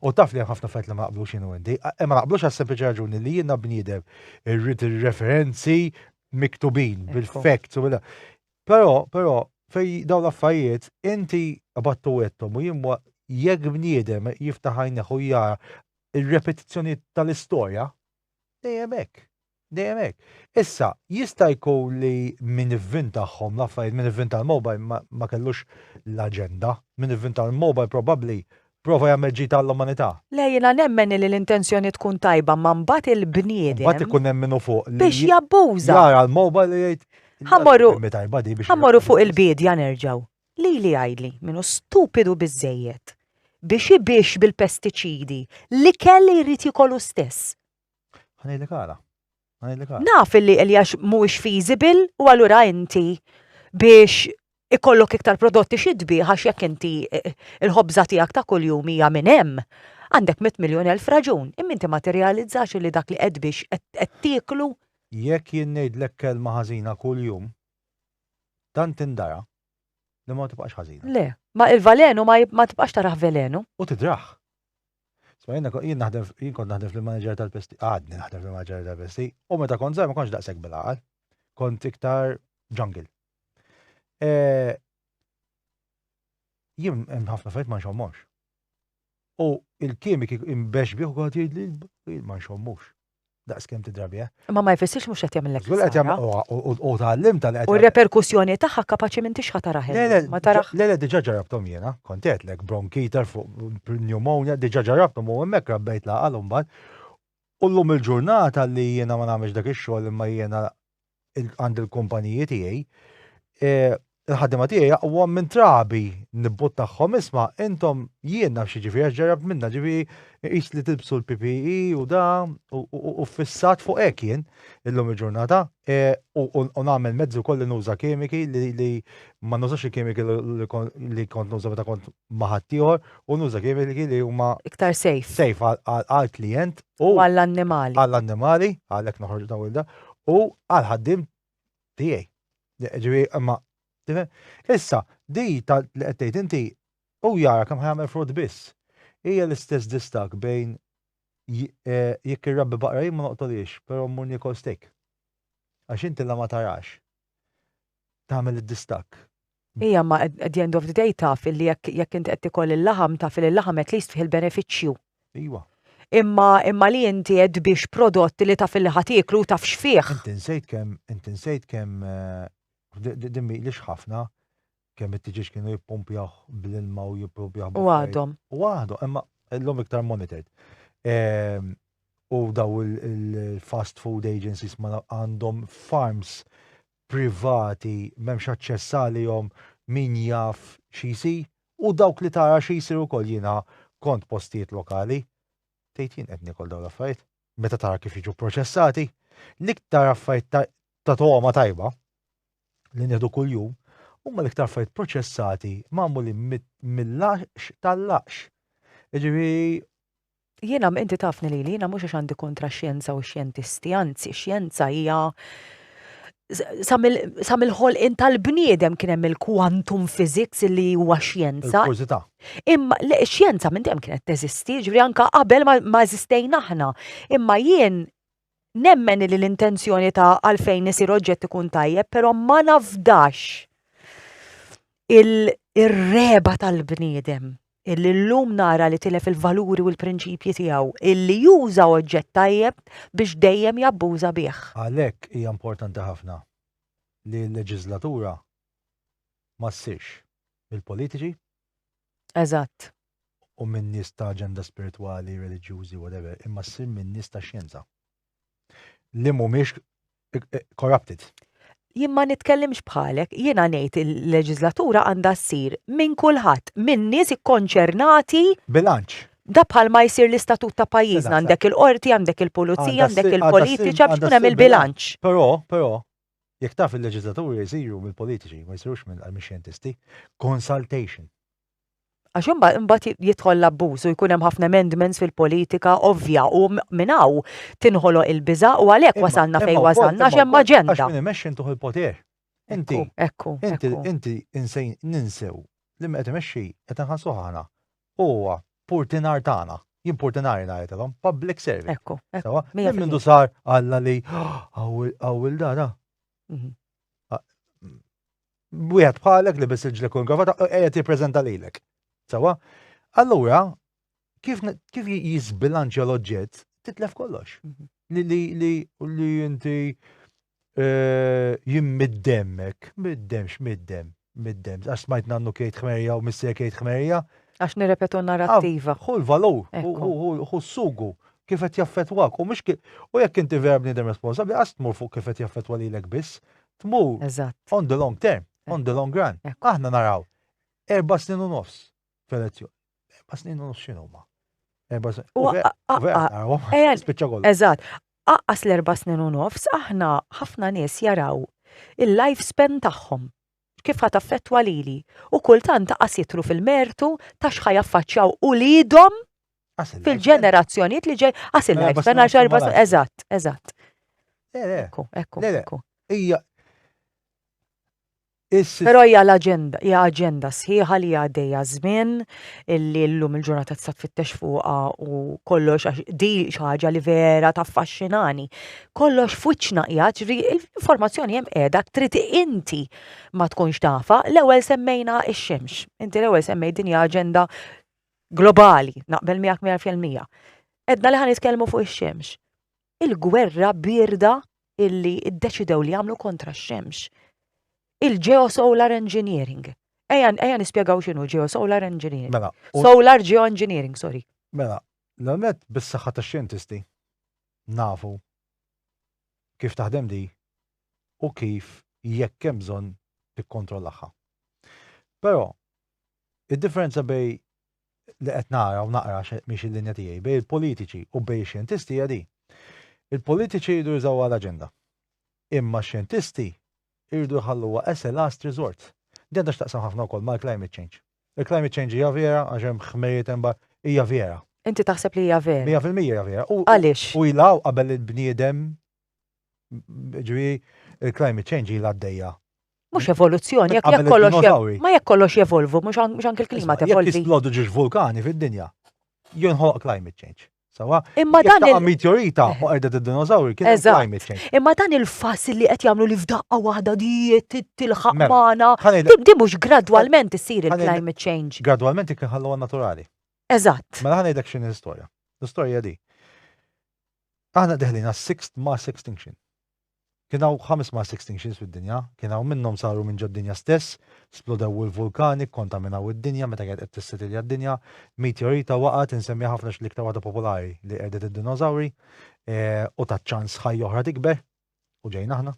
U taf li hemm ħafna affarijiet li ma naqblux jien u Andy, a- eh, ma naqblux għas sempliċi raġuni li jiena bniedem irrid ir-referenzi miktubin bil-facts u bil Però, però, fej dawn l-affarijiet, inti qbadtu għedthom u jien jekk bniedem jiftaħ għajnejh u jara r-repetizzjonijiet tal-istorja, dejjem hekk, dejjem hekk. Issa, jista' jkun li min ivvintahom l-affarijiet, min ivvinta l-mobile ma kellux l-aġenda, min ivvinta l-mobile probabbli Prova jagħmel ġid għall-umanità. Le jiena nemmen li l-intenzjoni tkun tajba imma mbagħad il-bniedem. Mbagħad ikun hemm min hu fuq li. Biex jabbuża. Jara l-mobile u jgħid. Ħa mmorru. Imma tajba di biex. Ħa mmorru fuq il-biedja nerġgħu. Lili jgħidli min hu stupidu biżżejjed biex ibix bil-pestiċidi l-ikel li jrid jikol hu stess. Ħanejlek għala. Naf li Eljax mhuwiex feasible u allura inti biex ikollok iktar prodotti xi tbieħ għax jekk inti eh, eh, il-ħobża tiegħek ta' kuljum hija minn hemm, għandek mit miljon elf raġun, imma inti ma tirrealizzax li dak li qed biex qed tieklu. Jekk jien ngħidlek kelma ħażina kuljum, tant indara li ma tibqax ħażina. Le, ma il-valenu ma tibqax taraħ velenu. U tidraħ. Sma jien jien naħdem jien kont naħdem fil-manager tal-pesti, għadni naħdem fil-manager tal-pesti, u meta kont żgħar ma kontx daqshekk bil-għaqal. Kont iktar jungle. E, jien hemm ħafna fejt ma nxommux. U il-kimik imbex bih u għad jgħid li ma nxommux. daqs kemm tidrabi, eh? Ma ma jfessiex mhux qed jagħmilek. Żgur qed jagħmel u tgħallim tal U r-reperkussjoni tagħha kapaċi minn tixħa taraħ. Ma taraħ. Le le diġà ġarabthom jiena, kont għedlek bronkiter fuq pneumonia, diġà ġarabthom u hemmhekk rabbejt laqal imbagħad. U llum il-ġurnata li jiena ma nagħmilx dak ix-xogħol imma jiena għand il-kumpaniji tiegħi, il-ħadima tiegħi jaqwa minn trabi nibbut tagħhom isma' intom jien naf xi ġifieri għax ġarrabt minna ġifieri qis li tilbsu l-PPE u da u fissat fuq hekk jien illum il-ġurnata u nagħmel mezzi wkoll li nuża kimiki li ma nużax il-kimiki li kont nuża meta kont ma' ħaddieħor u nuża kimiki li huma iktar safe safe għall-klijent u għall-annimali għall-annimali għalhekk noħorġ dawn il-da u għal ħaddim tiegħi. Ġifieri imma issa di li qed tgħid inti u jara kemm ħajamel frott biss. Hija l-istess distak bejn eh, jekk irrabbi baqra jien ma noqtoliex, però mmur nikol steak. Għax inti la ma tarax tagħmel id-distak Ija ma at the end of the day taf illi jekk jekk inti qed tikol il-laħam taf li l-laħam at least fih il-benefiċċju. Iwa. Imma imma li inti qed tbix prodott li taf illi ħa tieklu u taf x'fih. Inti nsejt kemm inti nsejt kemm din mhilix ħafna kemm it-tiġieġ kienu jippumpjah bl-ilma u jippumpjah U għadhom. U għadhom, imma l-lum iktar monitored. Ehm, u daw il-fast food agencies ma għandhom farms privati m'hemmx aċċess għalihom min jaf xi jsir u dawk li tara xi jsir ukoll jiena kont postijiet lokali tgħid jien qed niekol dawn l-affarijiet meta tara kif jiġu proċessati l-iktar affarijiet ta' ta' togħma tajba li nieħdu kuljum huma l-iktar affarijiet proċessati magħmulin mill-għax tal-għax. Jiġifieri Jiena, inti tafni lili, jiena mhux għax għandi kontra x-xjenza u x-xjentisti, anzi, xjenza hija sa mill-ħolqien tal-bniedem kien hemm il-quantum physics li huwa xjenza. Imma xjenza minn dejjem kienet teżisti, ġifieri anke qabel ma eżistejna aħna. Imma jien Nemmen li l-intenzjoni ta' għalfejn isir oġġett ikun tajjeb, però ma nafdax il-reba tal-bniedem illi llum nara li tilef il-valuri u l-prinċipji tiegħu, illi juża oġġett tajjeb biex dejjem jabbuża bih. Għalhekk hija importanti ħafna li l-leġiżlatura ma ssirx mill-politiċi, Eżatt. u minn nies ta' aġenda spiritwali, reliġjużi, whatever, imma ssir minn nies ta' xjenza. Li mhumiex corrupted. Jien ma nitkellimx bħalek, jiena ngħid il-leġiżlatura għandha ssir minn kulħadd, minn nies ikkonċernati. Bilanċ. Da bħalma jsir l-istatut ta' pajjiżna, għandek il-qorti, għandek il-pulizija, għandek il-politiċi, biex ikun hemm il-bilanċ. Però, però, Jekk taf il-leġiżlaturi jsiru mill-politiċi ma jsirux mill-xjentisti. Consultation. Għax imbagħad imbagħad jidħol l-abbuż u jkun hemm ħafna amendments fil-politika ovvja u minn hawn tinħoloq il-biża' u għalhekk wasalna fejn wasalna għax hemm aġenda. Għax min imexxi intuh il-poter. Inti. Ekku. Inti inti insejn ninsew li min qed imexxi qed inħallsuh aħna. Huwa purtinar tagħna. Jien purtinari ngħidilhom, public service. Ekku, ekku. Minn mindu sar Alla li għawil dara. Mhm. Wieħed bħalek li biss il-ġlek u l-gravata qiegħed jippreżenta lilek. Sawa? Allura, kif jizbilanċja l-oġġett, titlef kollox. Mhm. Li inti Jien mid-demm hekk, mid-demm, x'mid-demm, mid-demm. Għax smajt nannu kejt ħmerja u missier kejt ħmerja. Għax nirrepetu narrattiva. Hu l-valur, hu s-sugu, kif qed jaffettwak. U mhux u jekk inti vera bniedem responsabbli qatt tmur fuq kif qed jaffettwa lilek biss. Tmur on the long term, on the long run. Aħna naraw erba' snin u nofs f'elezzjoni. Erba' snin u nofs x'inhuma? Erba' snin. U spiċċa kollu. Eżatt. Aqqas l-erba' snin u nofs aħna ħafna nies jaraw il-life span tagħhom kif ħat affettwa lili u kultant qas jitru fil-mertu ta' x'ħa jaffaċċjaw uliedhom fil-ġenerazzjonijiet li ġej qas il-life span għax erba' snin. Eżatt, eżatt. Ekku, ekku, ekku. Hija Però hija l-aġenda, hija aġenda sħiħa li għaddejja ż-żmien, li llum il-ġurnata tista' tfittex fuqha u kollox għax di xi ħaġa li vera taffaxxinani. Kollox f'wiċċna qiegħed, ġifieri l-informazzjoni hemm qiegħda trid inti ma tkunx tafha. L-ewwel semmejna x-xemx. Inti l-ewwel semmejt din hija aġenda globali, naqbel miegħek mija fil-mija. Għedna li ħa nitkellmu fuq ix-xemx. il-gwerra bierda illi ddeċidew li jagħmlu kontra x-xemx. Il-geosolar engineering. Ejja, ejja nispjegaw x'inhu geosolar engineering. Mela, u- Solar geoengineering, sorry. Mela, l-għonet bis-saħħa ta' xjentisti nafu kif taħdem di u kif jekk hemm bżonn tikkontrollaha. Però, id-differenza bej li qed nara u naqra għax mhix il-linja tiegħi, bejn il-politiċi u bejn ix-xjentisti hija din. Il-politiċi jridu jużawha l-aġenda. Imma x-xjentisti jridu jħalluha as a last resort. Din għandha x'taqsam ħafna wkoll mal-climate change. Il-climate change hija vera għax hemm ħmerijiet hemm hija vera. Inti taħseb li hija vera? Mija fil-mija hija vera. Għaliex? U ilha qabel il-bniedem Ġifieri il-climate change ilha għaddejja. Mhux evoluzzjoni, jekk jekk kollox ma jekk kollox jevolvu, mhux anke l-klima tevolvi. Jekk jisplodu ġiex vulkani fid-dinja, jinħoloq climate change. Sawa? Imma dan il meteorita u qerdet id-dinożawri kien climate change. Imma dan il-fass li qed jagħmlu li f'daqqa waħda dijiet tilħaq mela, magħna. Tibdi mhux gradwalment issir il-climate change. Gradwalment kien ħalluha naturali. Eżatt. Mela ħanejdek x'inhi l-istorja. L-istorja di. Aħna deħlin għas-sixth mass extinction. Kien hawn ħames mass extinctions fid-dinja, kien hawn minnhom saru minn ġod-dinja stess, splodew il-vulkani, kkontaminaw id-dinja meta kienet qed tissetilja d-dinja, meteorita waqgħet, insemmija ħafna għax l-iktar waħda popolari li qerdet id-dinosawri, u tat ċans ħajja oħra tikber, u ġejna aħna,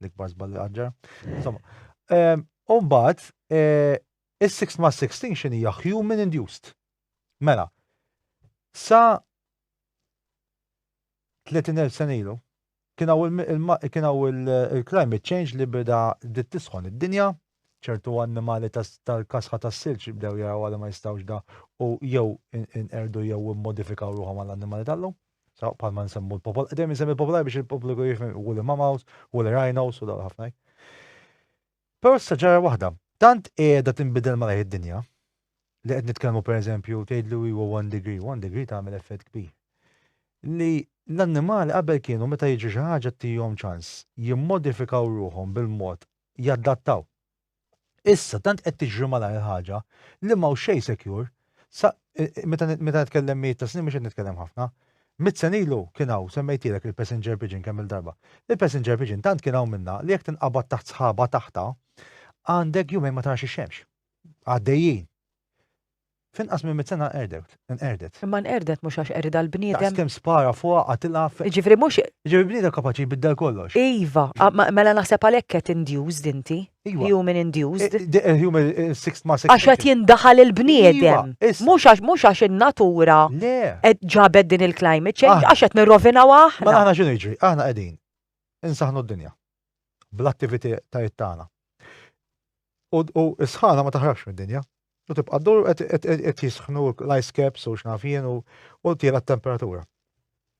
l-ikbar żball li qatt ġara. Insomma, u mbagħad is-sixth mass extinction hija human induced. Mela, sa 30,000 sena ilu. Kien hawn il-climate change li beda bdiet tisħon id-dinja, ċertu annimali tal-kasħa tas-silġ bdew jaraw li ma jistgħux da u jew inqerdu jew immodifikaw ruħhom għall-annimali tal-lum. Saw bħalma nsemmu l-popol, dejjem nsemmi l-popolaj biex il-pubbliku jifhem u l-mamaws, u l-rhinos u dawn ħafna. Però issa ġara waħda. Tant qiegħda tinbidel malajr id-dinja li qed nitkellmu pereżempju tgħidlu iwa one degree, one degree tagħmel effett kbir. Li l-annimali qabel kienu meta jiġri xi ħaġa tihom ċans jimmodifikaw ruħhom bil-mod jadattaw. Issa tant qed tiġri malajr il-ħaġa li m'hawn xejn secure Sa, meta nitkellem mijiet ta' snin mhux qed nitkellem ħafna. Mit sen ilu kien hawn semmejtilek il-passenger pigeon kemm il-darba. Il-passenger pigeon tant kien hawn minnha li jekk tinqabad taħt sħaba taħtha għandek jumejn ma tarax ix-xemx. Għaddejjin. F'inqas minn mit sena qerdet, inqerdet. Imma nqerdet mhux għax qerida l-bniedem. Daqs kemm spara fuqha qatilha. Jiġifieri mhux. Jiġifieri bniedem kapaċi jbiddel kollox. Iva, mela naħseb għalhekk qed induced inti. Iva. Human induced. Eh, eh, human eh, six ma six. Għax qed jindaħal il-bniedem. Iva, mhux għax mhux għax in-natura qed ġabed din il-climate change ah. għax qed nirrovinaw aħna. Ma aħna x'inhu jiġri? Aħna qegħdin insaħnu d-dinja bl-attivitajiet tagħna. U sħana ma taħrabx mid-dinja. U tibqa' ddur qed jisħnu l-ice caps u x'naf jien u tiela t-temperatura.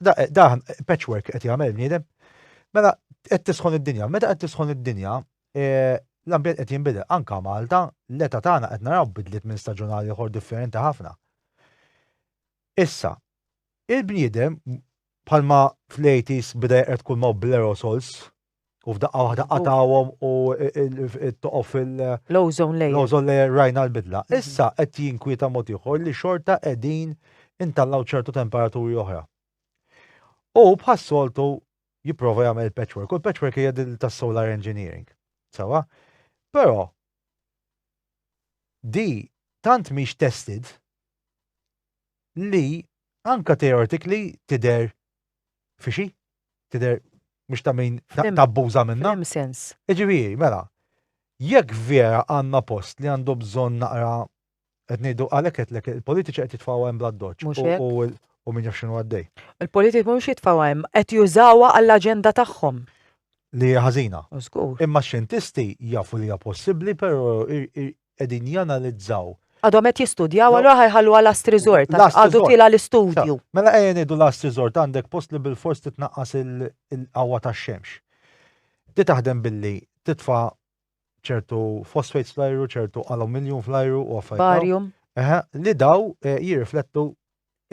Daħn patchwork qed jagħmel bniedem. Mela qed tisħon id-dinja. Meta qed tisħon id-dinja, e, l-ambjent qed jinbidel. Anka Malta, l-età tagħna qed naraw bidliet minn staġun għal ieħor differenti ħafna. Issa, il-bniedem bħalma fl-80s bida jqred kull ma' bl-aerosols, U f'daqqa waħda qatawhom u toqgħu fil- L-ozone layer. L-ozone layer rajna l-bidla. Mhm. Issa qed jinkwieta mod ieħor li xorta qegħdin intallaw ċertu temperaturi oħra. U bħas-soltu jipprova jagħmel il-patchwork. U l-patchwork hija din tas-solar engineering. Sawa? Però di tant mhix tested li anka teoretically tider fi xi tidher mhux ta' min tabbuża minna. Hemm sens. Iġifieri, mela, jekk vera għandna post li għandu bżonn naqra qed ngħidu għalhekk qed il-politiċi qed jitfgħu hemm bla doċċ u min jaf x'inhu għaddej. Il-politiċi mhux jitfgħu hemm, qed jużawha għall-aġenda tagħhom. Li ħażina. Imma x-xjentisti jafu li hija possibbli, però qegħdin janalizzaw. Għadhom qed jistudjaw allura ħa jħallu għal last resort għax għadu tiela' l-istudju. Mela ejja ngħidu last resort għandek post li bilfors titnaqqas il-qawwa tax-xemx. Di taħdem billi titfa' ċertu fosfates fl-ajru, ċertu aluminjum fl-ajru u affarijiet. Barium. Eħe, li daw eh, jirriflettu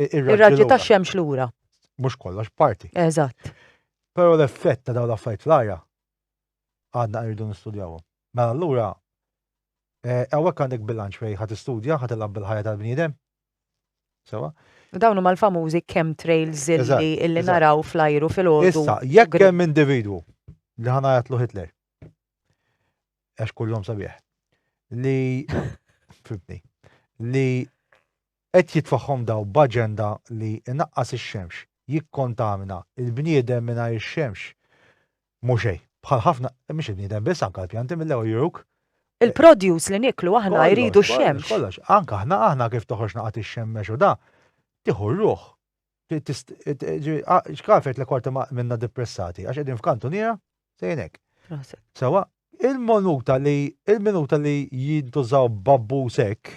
ir-raġġi tax-xemx lura. Mhux kollox parti. Eżatt. Però l-effett ta' dawn l-affarijiet fl-arja għadna rridu nistudjawhom. Mela allura, hawnhekk għandek bilanċ fejn ħa tistudja, ħa tilgħab bil-ħajja tal-bniedem. Sewwa? U dawn huma l-famużi chemtrails illi illi naraw fl-ajru filgħodu. Issa, jekk hemm individwu li ħa ngħajatlu Hitler, għax kullhom sabiħ, li fibni, li Qed jitfagħhom dawn b'aġenda li inaqqas ix-xemx, jikkontamina, il-bniedem mingħajr ix-xemx mhu xejn. Bħal ħafna, mhux il-bniedem biss anke l-pjanti mill-ewwel juruk. Il-produce li nieklu aħna jridu x-xemx. Kollox, kollox, kollox. Anke aħna, aħna kif toħroġ naqgħa tixxemmex u da, tieħu r-ruħ. X'kaf jgħidlek qorti ma minna dippressati għax qegħdin f'kantuniera sejrin hekk. Proset. Sewwa, il-monuta li il-minuta li jintużaw b'abbuż hekk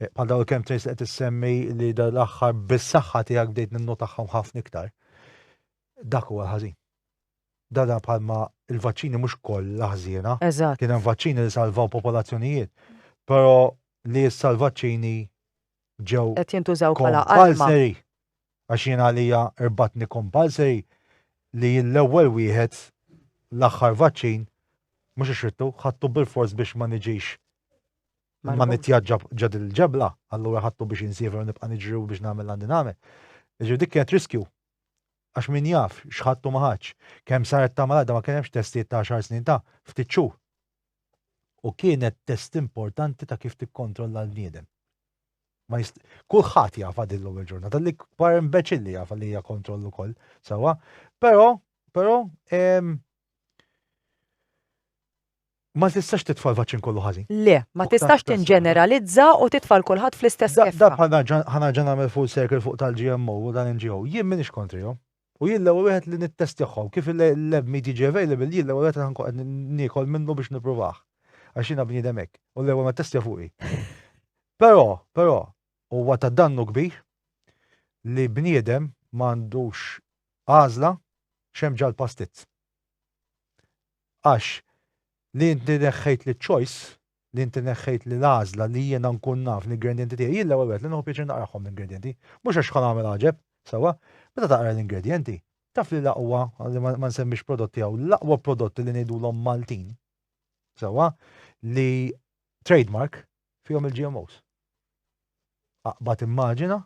Bħal dawn kemm tgħid qed issemmi li dal-aħħar bis-saħħa tiegħek bdejt ninnotahom ħafna iktar. Dak huwa ħażin. Dada bħalma il-vaċċini mhux kollha ħżiena. Eżatt. Kien hemm vaċċini li salvaw popolazzjonijiet. Però li issa l-vaċċini ġew. Qed jintużaw bħala Kompalseri. Għax jien għalija irbatni kompalseri li l-ewwel wieħed l-aħħar vaċċin mhux ixrittu ħattu bil-fors biex ma niġix Ma nitjaġġa ġad il-ġebla, allura ħattu biex insiefer nibqa' niġri biex nagħmel għandi nagħmel. Ġifieri dik kienet riskju. Għax min jaf x'ħattu ma ħadx. Kemm saret ta' malada ma kien hemmx testijiet ta' xar snin ta' ftit xhur. U kienet test importanti ta' kif tikkontrolla l-bniedem. Kulħadd jafa din l-ewwel ġurnata li kbar imbeċilli jafa li hija kontroll ukoll sewwa, però però Ma tistax titfa' l-vaċċin kollu ħażin. Le, ma tistax tinġeneralizza u titfa' 'l kulħadd fl-istess keffa. Da bħal nerġa' ħa nerġa' nagħmel full circle fuq tal-GMO u tal-NGO. Jien m'iniex kontrihom. U jien l-ewwel wieħed li nittestjahom. Kif il-lab meat jiġi available, jien l-ewwel wieħed li ħa nkun qed niekol minnu biex nippruvah. Għax jiena bniedem hekk. U l-ewwel ma ttestja fuqi. Però, però, huwa ta' dannu kbir li bniedem ma għandux għażla x'hemm ġall-pastizz. Għax li inti neħħejt li choice, li inti neħħejt li l-għażla li jiena nkun naf l-ingredjenti tiegħi, jien l-ewwel wieħed li nieħu pjaċir naqrahom l-ingredjenti, mhux għax ħa nagħmel għaġeb, sewwa, meta taqra l-ingredjenti, taf li l-aqwa, li ma nsemmix prodotti hawn, l-aqwa prodotti li ngħidulhom Maltin, sewwa, li trade mark fihom il-GMOs. Aqbad immaġina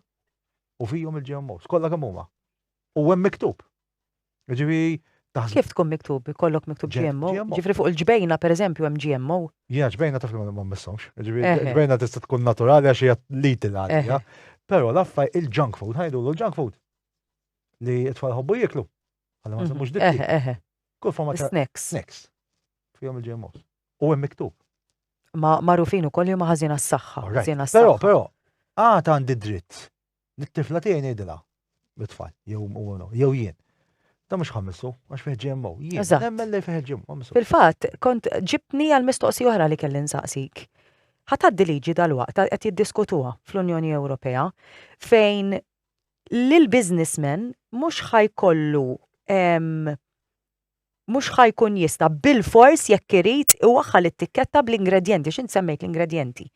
u fihom il-GMOs, kollha kemm huma. U hemm miktub. Ġifieri taħseb. Kif tkun miktub? Ikollok miktub GMO? Ġifieri fuq il-ġbejna pereżempju hemm GMO? Ja, ġbejna taf li ma mmissomx. Ġifieri ġbejna tista' tkun naturali għax hija litil għalija. Però l-affaj il-junk food, ħajdulu l-junk food. Li t-tfal ħobbu jieklu. Għalla ma nsemmux dik. Eħe, eħe. Kull forma ta' snacks. Snacks. Fihom il-GMOs. U hemm miktub. Ma marufin ukoll li huma ħażin għas-saħħa. Ħażin għas-saħħa. Però, però, għad għandi dritt Lit-tifla tiegħi ngħidilha, mit-tfal, jew jew jien. Da mhux ħammissu, għax fih GMO. Jien nemmen li fih GMO. Fil-fatt, kont ġibni għal mistoqsi oħra li kelli nsaqsik. Ħataddi liġi dal-waqt qed jiddiskutuha fl-Unjoni Ewropea fejn l-businessman mhux ħajkollu mhux ħa jkun jista' bilfors jekk irid iwaħħal it-tikketta bl-ingredjenti għax int semmejt l-ingredjenti.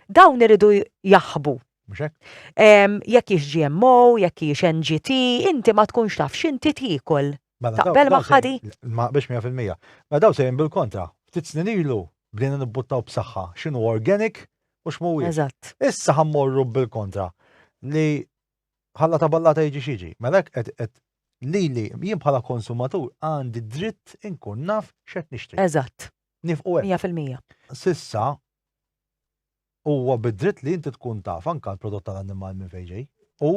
Dawn iridu jaħbu. Mhux hekk? Ehm, jekk hix GMO, jekk hix NGT, inti ma tkunx taf x'inti tiekol. Mela, daw- Taqbel daw ma' se- ħadi? Ma biex 100%. Ma daw sejn bil-kontra. Ftit snin ilu bdejna nibbuttaw b'saħħa x'inhu organic u x'mhuwiex. Eżatt. Issa ħammorru bil-kontra li Ħalla ta' ballata jiġi x'jiġi. Mela hekk qed qed lili jien bħala konsumatur għandi d-dritt inkun naf x'qed nixtri. Eżatt. Nifqu hekk. Mija fil-mija. S'issa huwa bid-dritt li inti tkun taf anke l-prodott tal-annimal minn fejn ġej u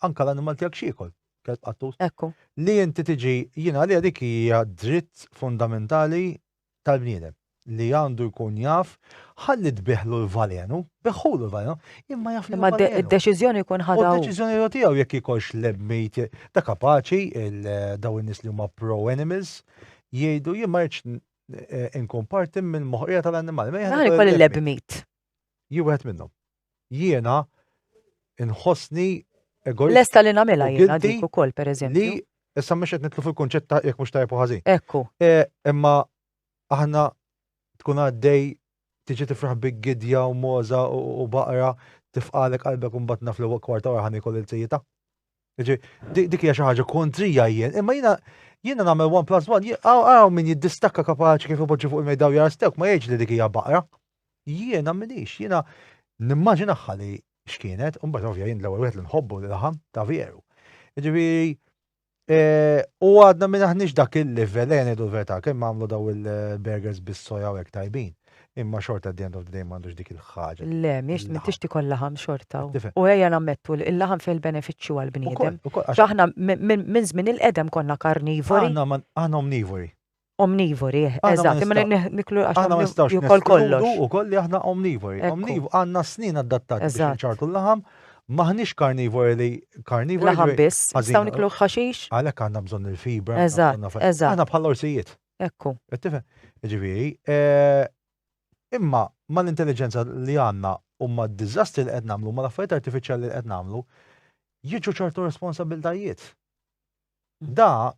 anke l-annimal tiegħek x'jiekol. Kelb qattus. Ekku. Li inti tiġi jien għalija dik hija dritt fundamentali tal-bniedem li għandu jkun jaf ħalli tbiħlu l-valenu, biħulu l-valenu, imma jaf li. Imma d-deċiżjoni jkun ħadu. D-deċiżjoni jgħu tiegħu jekk jkollx l-emmejt ta' kapaċi daw in-nies li huma pro-animals jgħidu jien ma rridx eh, inkun parti mill-moħqija tal-annimali. Naħli koll l-ebmit. Jiwħed minnhom. Jiena nħossni egoist. Lesta li nagħmilha jiena dik ukoll pereżempju. Li issa mhux qed nitlu fil-kunċett ta' jekk mhux tajjeb u ħażin. Ekku. E, imma aħna tkun għaddej tiġi tifraħ bi gidja u moza u baqra tifqalek qalbek un batna fl-ewwel kwarta wara ħan ikol il-sejjita. Dik hija xi ħaġa kontrija jien, imma jiena jiena nagħmel one plus one, għaw min jiddistakka kapaċi kif ipoġġi fuq il-mejda u jarstewk ma jgħidx li dik hija baqra. Jiena minix, jiena nimmaġinaħħa li x'kienet, u mbagħad ovvja jien l-ewwel wieħed li nħobbu li laħam ta' veru. Ġifieri eh, u għadna minn aħniex dak il-livell, ejja ngħidu l-verità, kemm għamlu daw il-burgers bis-soja u hekk tajbin. Imma xorta at the end of the day m'għandux dik il-ħaġa. Le, miex m'intix tikollha ħam xorta. U ejja nammettu li l-laħam fih il-benefiċċju għall-bniedem. Aħna minn żmien il-qedem konna karnivori. Aħna omnivori. Omnivori, eżatt, imma niklu għax jukol kollox. U koll li aħna omnivori. Omnivori, għandna snin adattati biex nċartu l-laħam, maħniex karnivori li karnivori. Laħam biss, nistgħu niklu ħaxix. Għalhekk għandna bżonn il-fibra. Eżatt, eżatt. Aħna bħal orsijiet. Ekku. Qed tifhem? Jiġifieri, eh, imma mal-intelliġenza li għandna u mad-diżastri li qed nagħmlu, mal-affarijiet artifiċjali li qed nagħmlu, jiġu ċertu responsabiltajiet. Da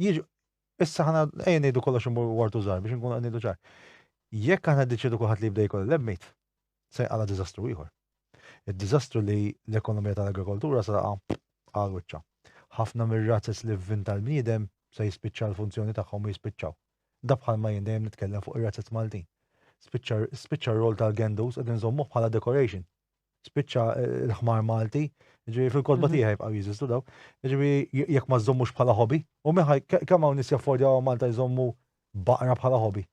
jiġu issa ħana ejja ngħidu kollox imur wartu żgħar biex nkunu qed ngħidu ċar. Jekk aħna ddiċedu kulħadd li jibda jkun il-lebmit, se jqala diżastru ieħor. Id-diżastru li l-ekonomija tal-agrikoltura se taqa' għal wiċċa. Ħafna mir-razzez li vvin tal-bniedem se jispiċċa l-funzjoni tagħhom u jispiċċaw. Da bħal ma jien dejjem nitkellem fuq ir-razzez Maltin. Spiċċa r-rol tal-gendus qed inżommuh bħala decoration. Spiċċa eh, l-ħmar Malti, ġifieri fil-kodba mhm. tiegħi jibqgħu jeżistu daw. Ġifieri jekk ma żommux bħala hobby, u meħaj kemm hawn nies jaffordjaw Malta jżommu baqra bħala hobby.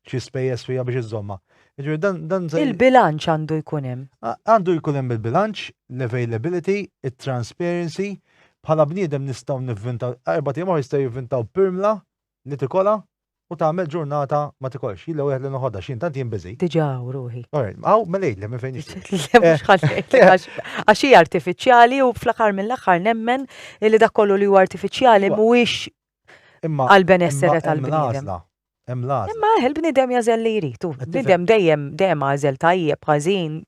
xi spejjeż fija biex iżomma. Jiġri dan dan se- Il-bilanċ għandu jkun hemm. A- Għandu jkun hemm il-bilanċ, l-availability, it-transparency, bħala bniedem nistgħu nivvintaw, erba' tim jistgħu jivvintaw pirmla li tikola u tagħmel ġurnata ma tikolx. Jilla wieħed li noħodha x'jien tant jien biżi. Diġà hawn ruħi. Alright, Aw, mela jgħidli minn fejn nixtieq. Le, mhux ħallejk, għax- Għax hija artifiċjali u fl-aħħar mill-aħħar nemmen li dak kollu li huwa artifiċjali Iva. mhuwiex Imma għall-benessere tal-bniedem. Hemm l-għażla. Imma eħ il-bniedem jażel li jrid. Bniedem dejjem dejjem għażel tajjeb, ħażin.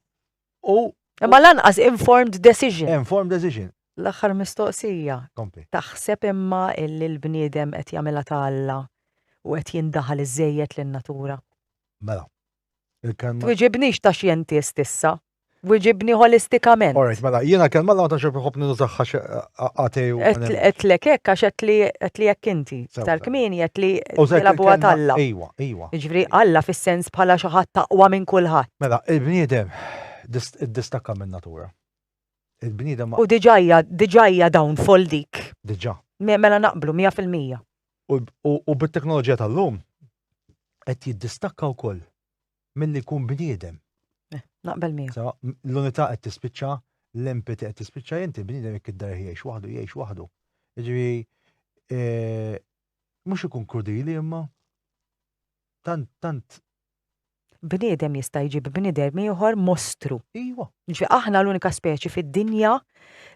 U Imma lanqas informed decision. Informed decision. L-aħħar mistoqsija. Kompli. Taħseb imma illi l-bniedem qed jagħmilha ta' Alla u qed jindaħal iżejjed lin-natura. Mela. Il-kelma. Twiġibnix ta' xjentist issa. Wiġibni holistikament. All right, mela, jiena kelma l-għawta xef iħob nużaxħa għatej u. Għetlek hekk għax għetli hekk inti. Tal-kmini għetli tilabu għat Alla. Iwa, iwa. Ġifri Alla fis-sens bħala xi ħadd taqwa minn kulħadd. Mela, il-bniedem distakka minn natura. Il-bniedem. U diġajja, diġajja dawn fol dik. Diġa. Mela naqblu 100%. U bit-teknoloġija tal-lum qed jiddistakka wkoll. milli jkun bniedem. Eh, naqbel miegħu. L-unità qed tispiċċa, l-empati qed tispiċċa inti bniedem jekk id-dar jgħix waħdu, jgħix waħdu. Jiġifieri eh, mhux ikun krudili imma tant tant bniedem jista' jġib bniedem ieħor mostru. Iwa. Ġi aħna l-unika speċi fid-dinja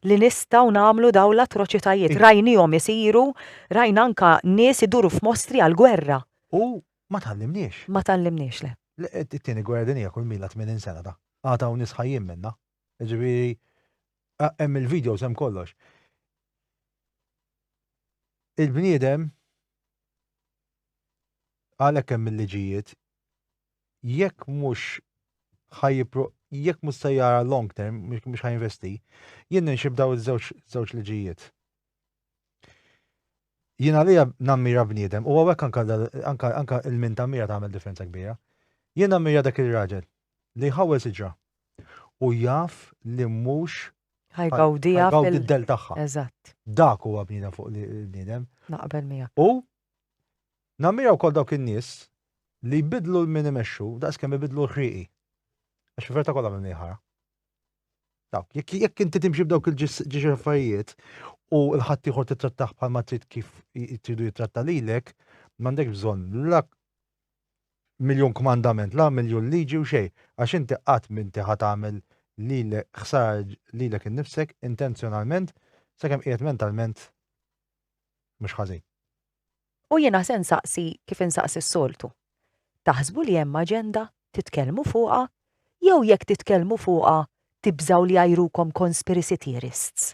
li nistgħu nagħmlu daw l-atroċitajiet. Rajnihom isiru, rajna anka nies iduru f'mostri għal-gwerra. U Ma tgħallimniex. Ma tgħallimniex, le. It-Tieni Gwerra Dinjija kull milha tmenin sena da. Għad hawn nies ħajjin minnha. Jiġifieri hemm il-videos hemm kollox. Il-bniedem għalhekk hemm il-liġijiet jekk mhux ħajjipru jekk mhux se jara long term mhux ħajinvesti, jien ninxib daw iż-żewġ liġijiet. Jien għalija nammira bniedem, u għawek anka il-min tammira tagħmel differenza kbira. Jien nammira dak il-raġel li jħawel siġra u jaf li mhux ħajgawdija fil-del tagħha. Eżatt. Dak huwa bniedem fuq li bniedem. Naqbel mija. U nammira wkoll dawk in-nies li jbidlu l-min imexxu daqs kemm ibidlu l-ħriqi. Għax verta kollha minn ħara. Dawk, jekk inti timxi b'dawk il-ġiex affarijiet u l-ħadd ieħor titrattaħ bħal ma trid kif tridu jitratta lilek, m'għandek bżonn la miljon kmandament, la miljon liġi u xejn, għax inti qatt minti ħadd għamel lilek ħsar lilek innifsek intenzjonalment sakemm qiegħed mentalment mhux ħażin. U jiena se nsaqsi kif insaqsi s-soltu. Taħsbu li hemm aġenda? Titkellmu fuqha? Jew jekk titkellmu fuqha, tibżgħu li jgħajrukom conspiracy theorists?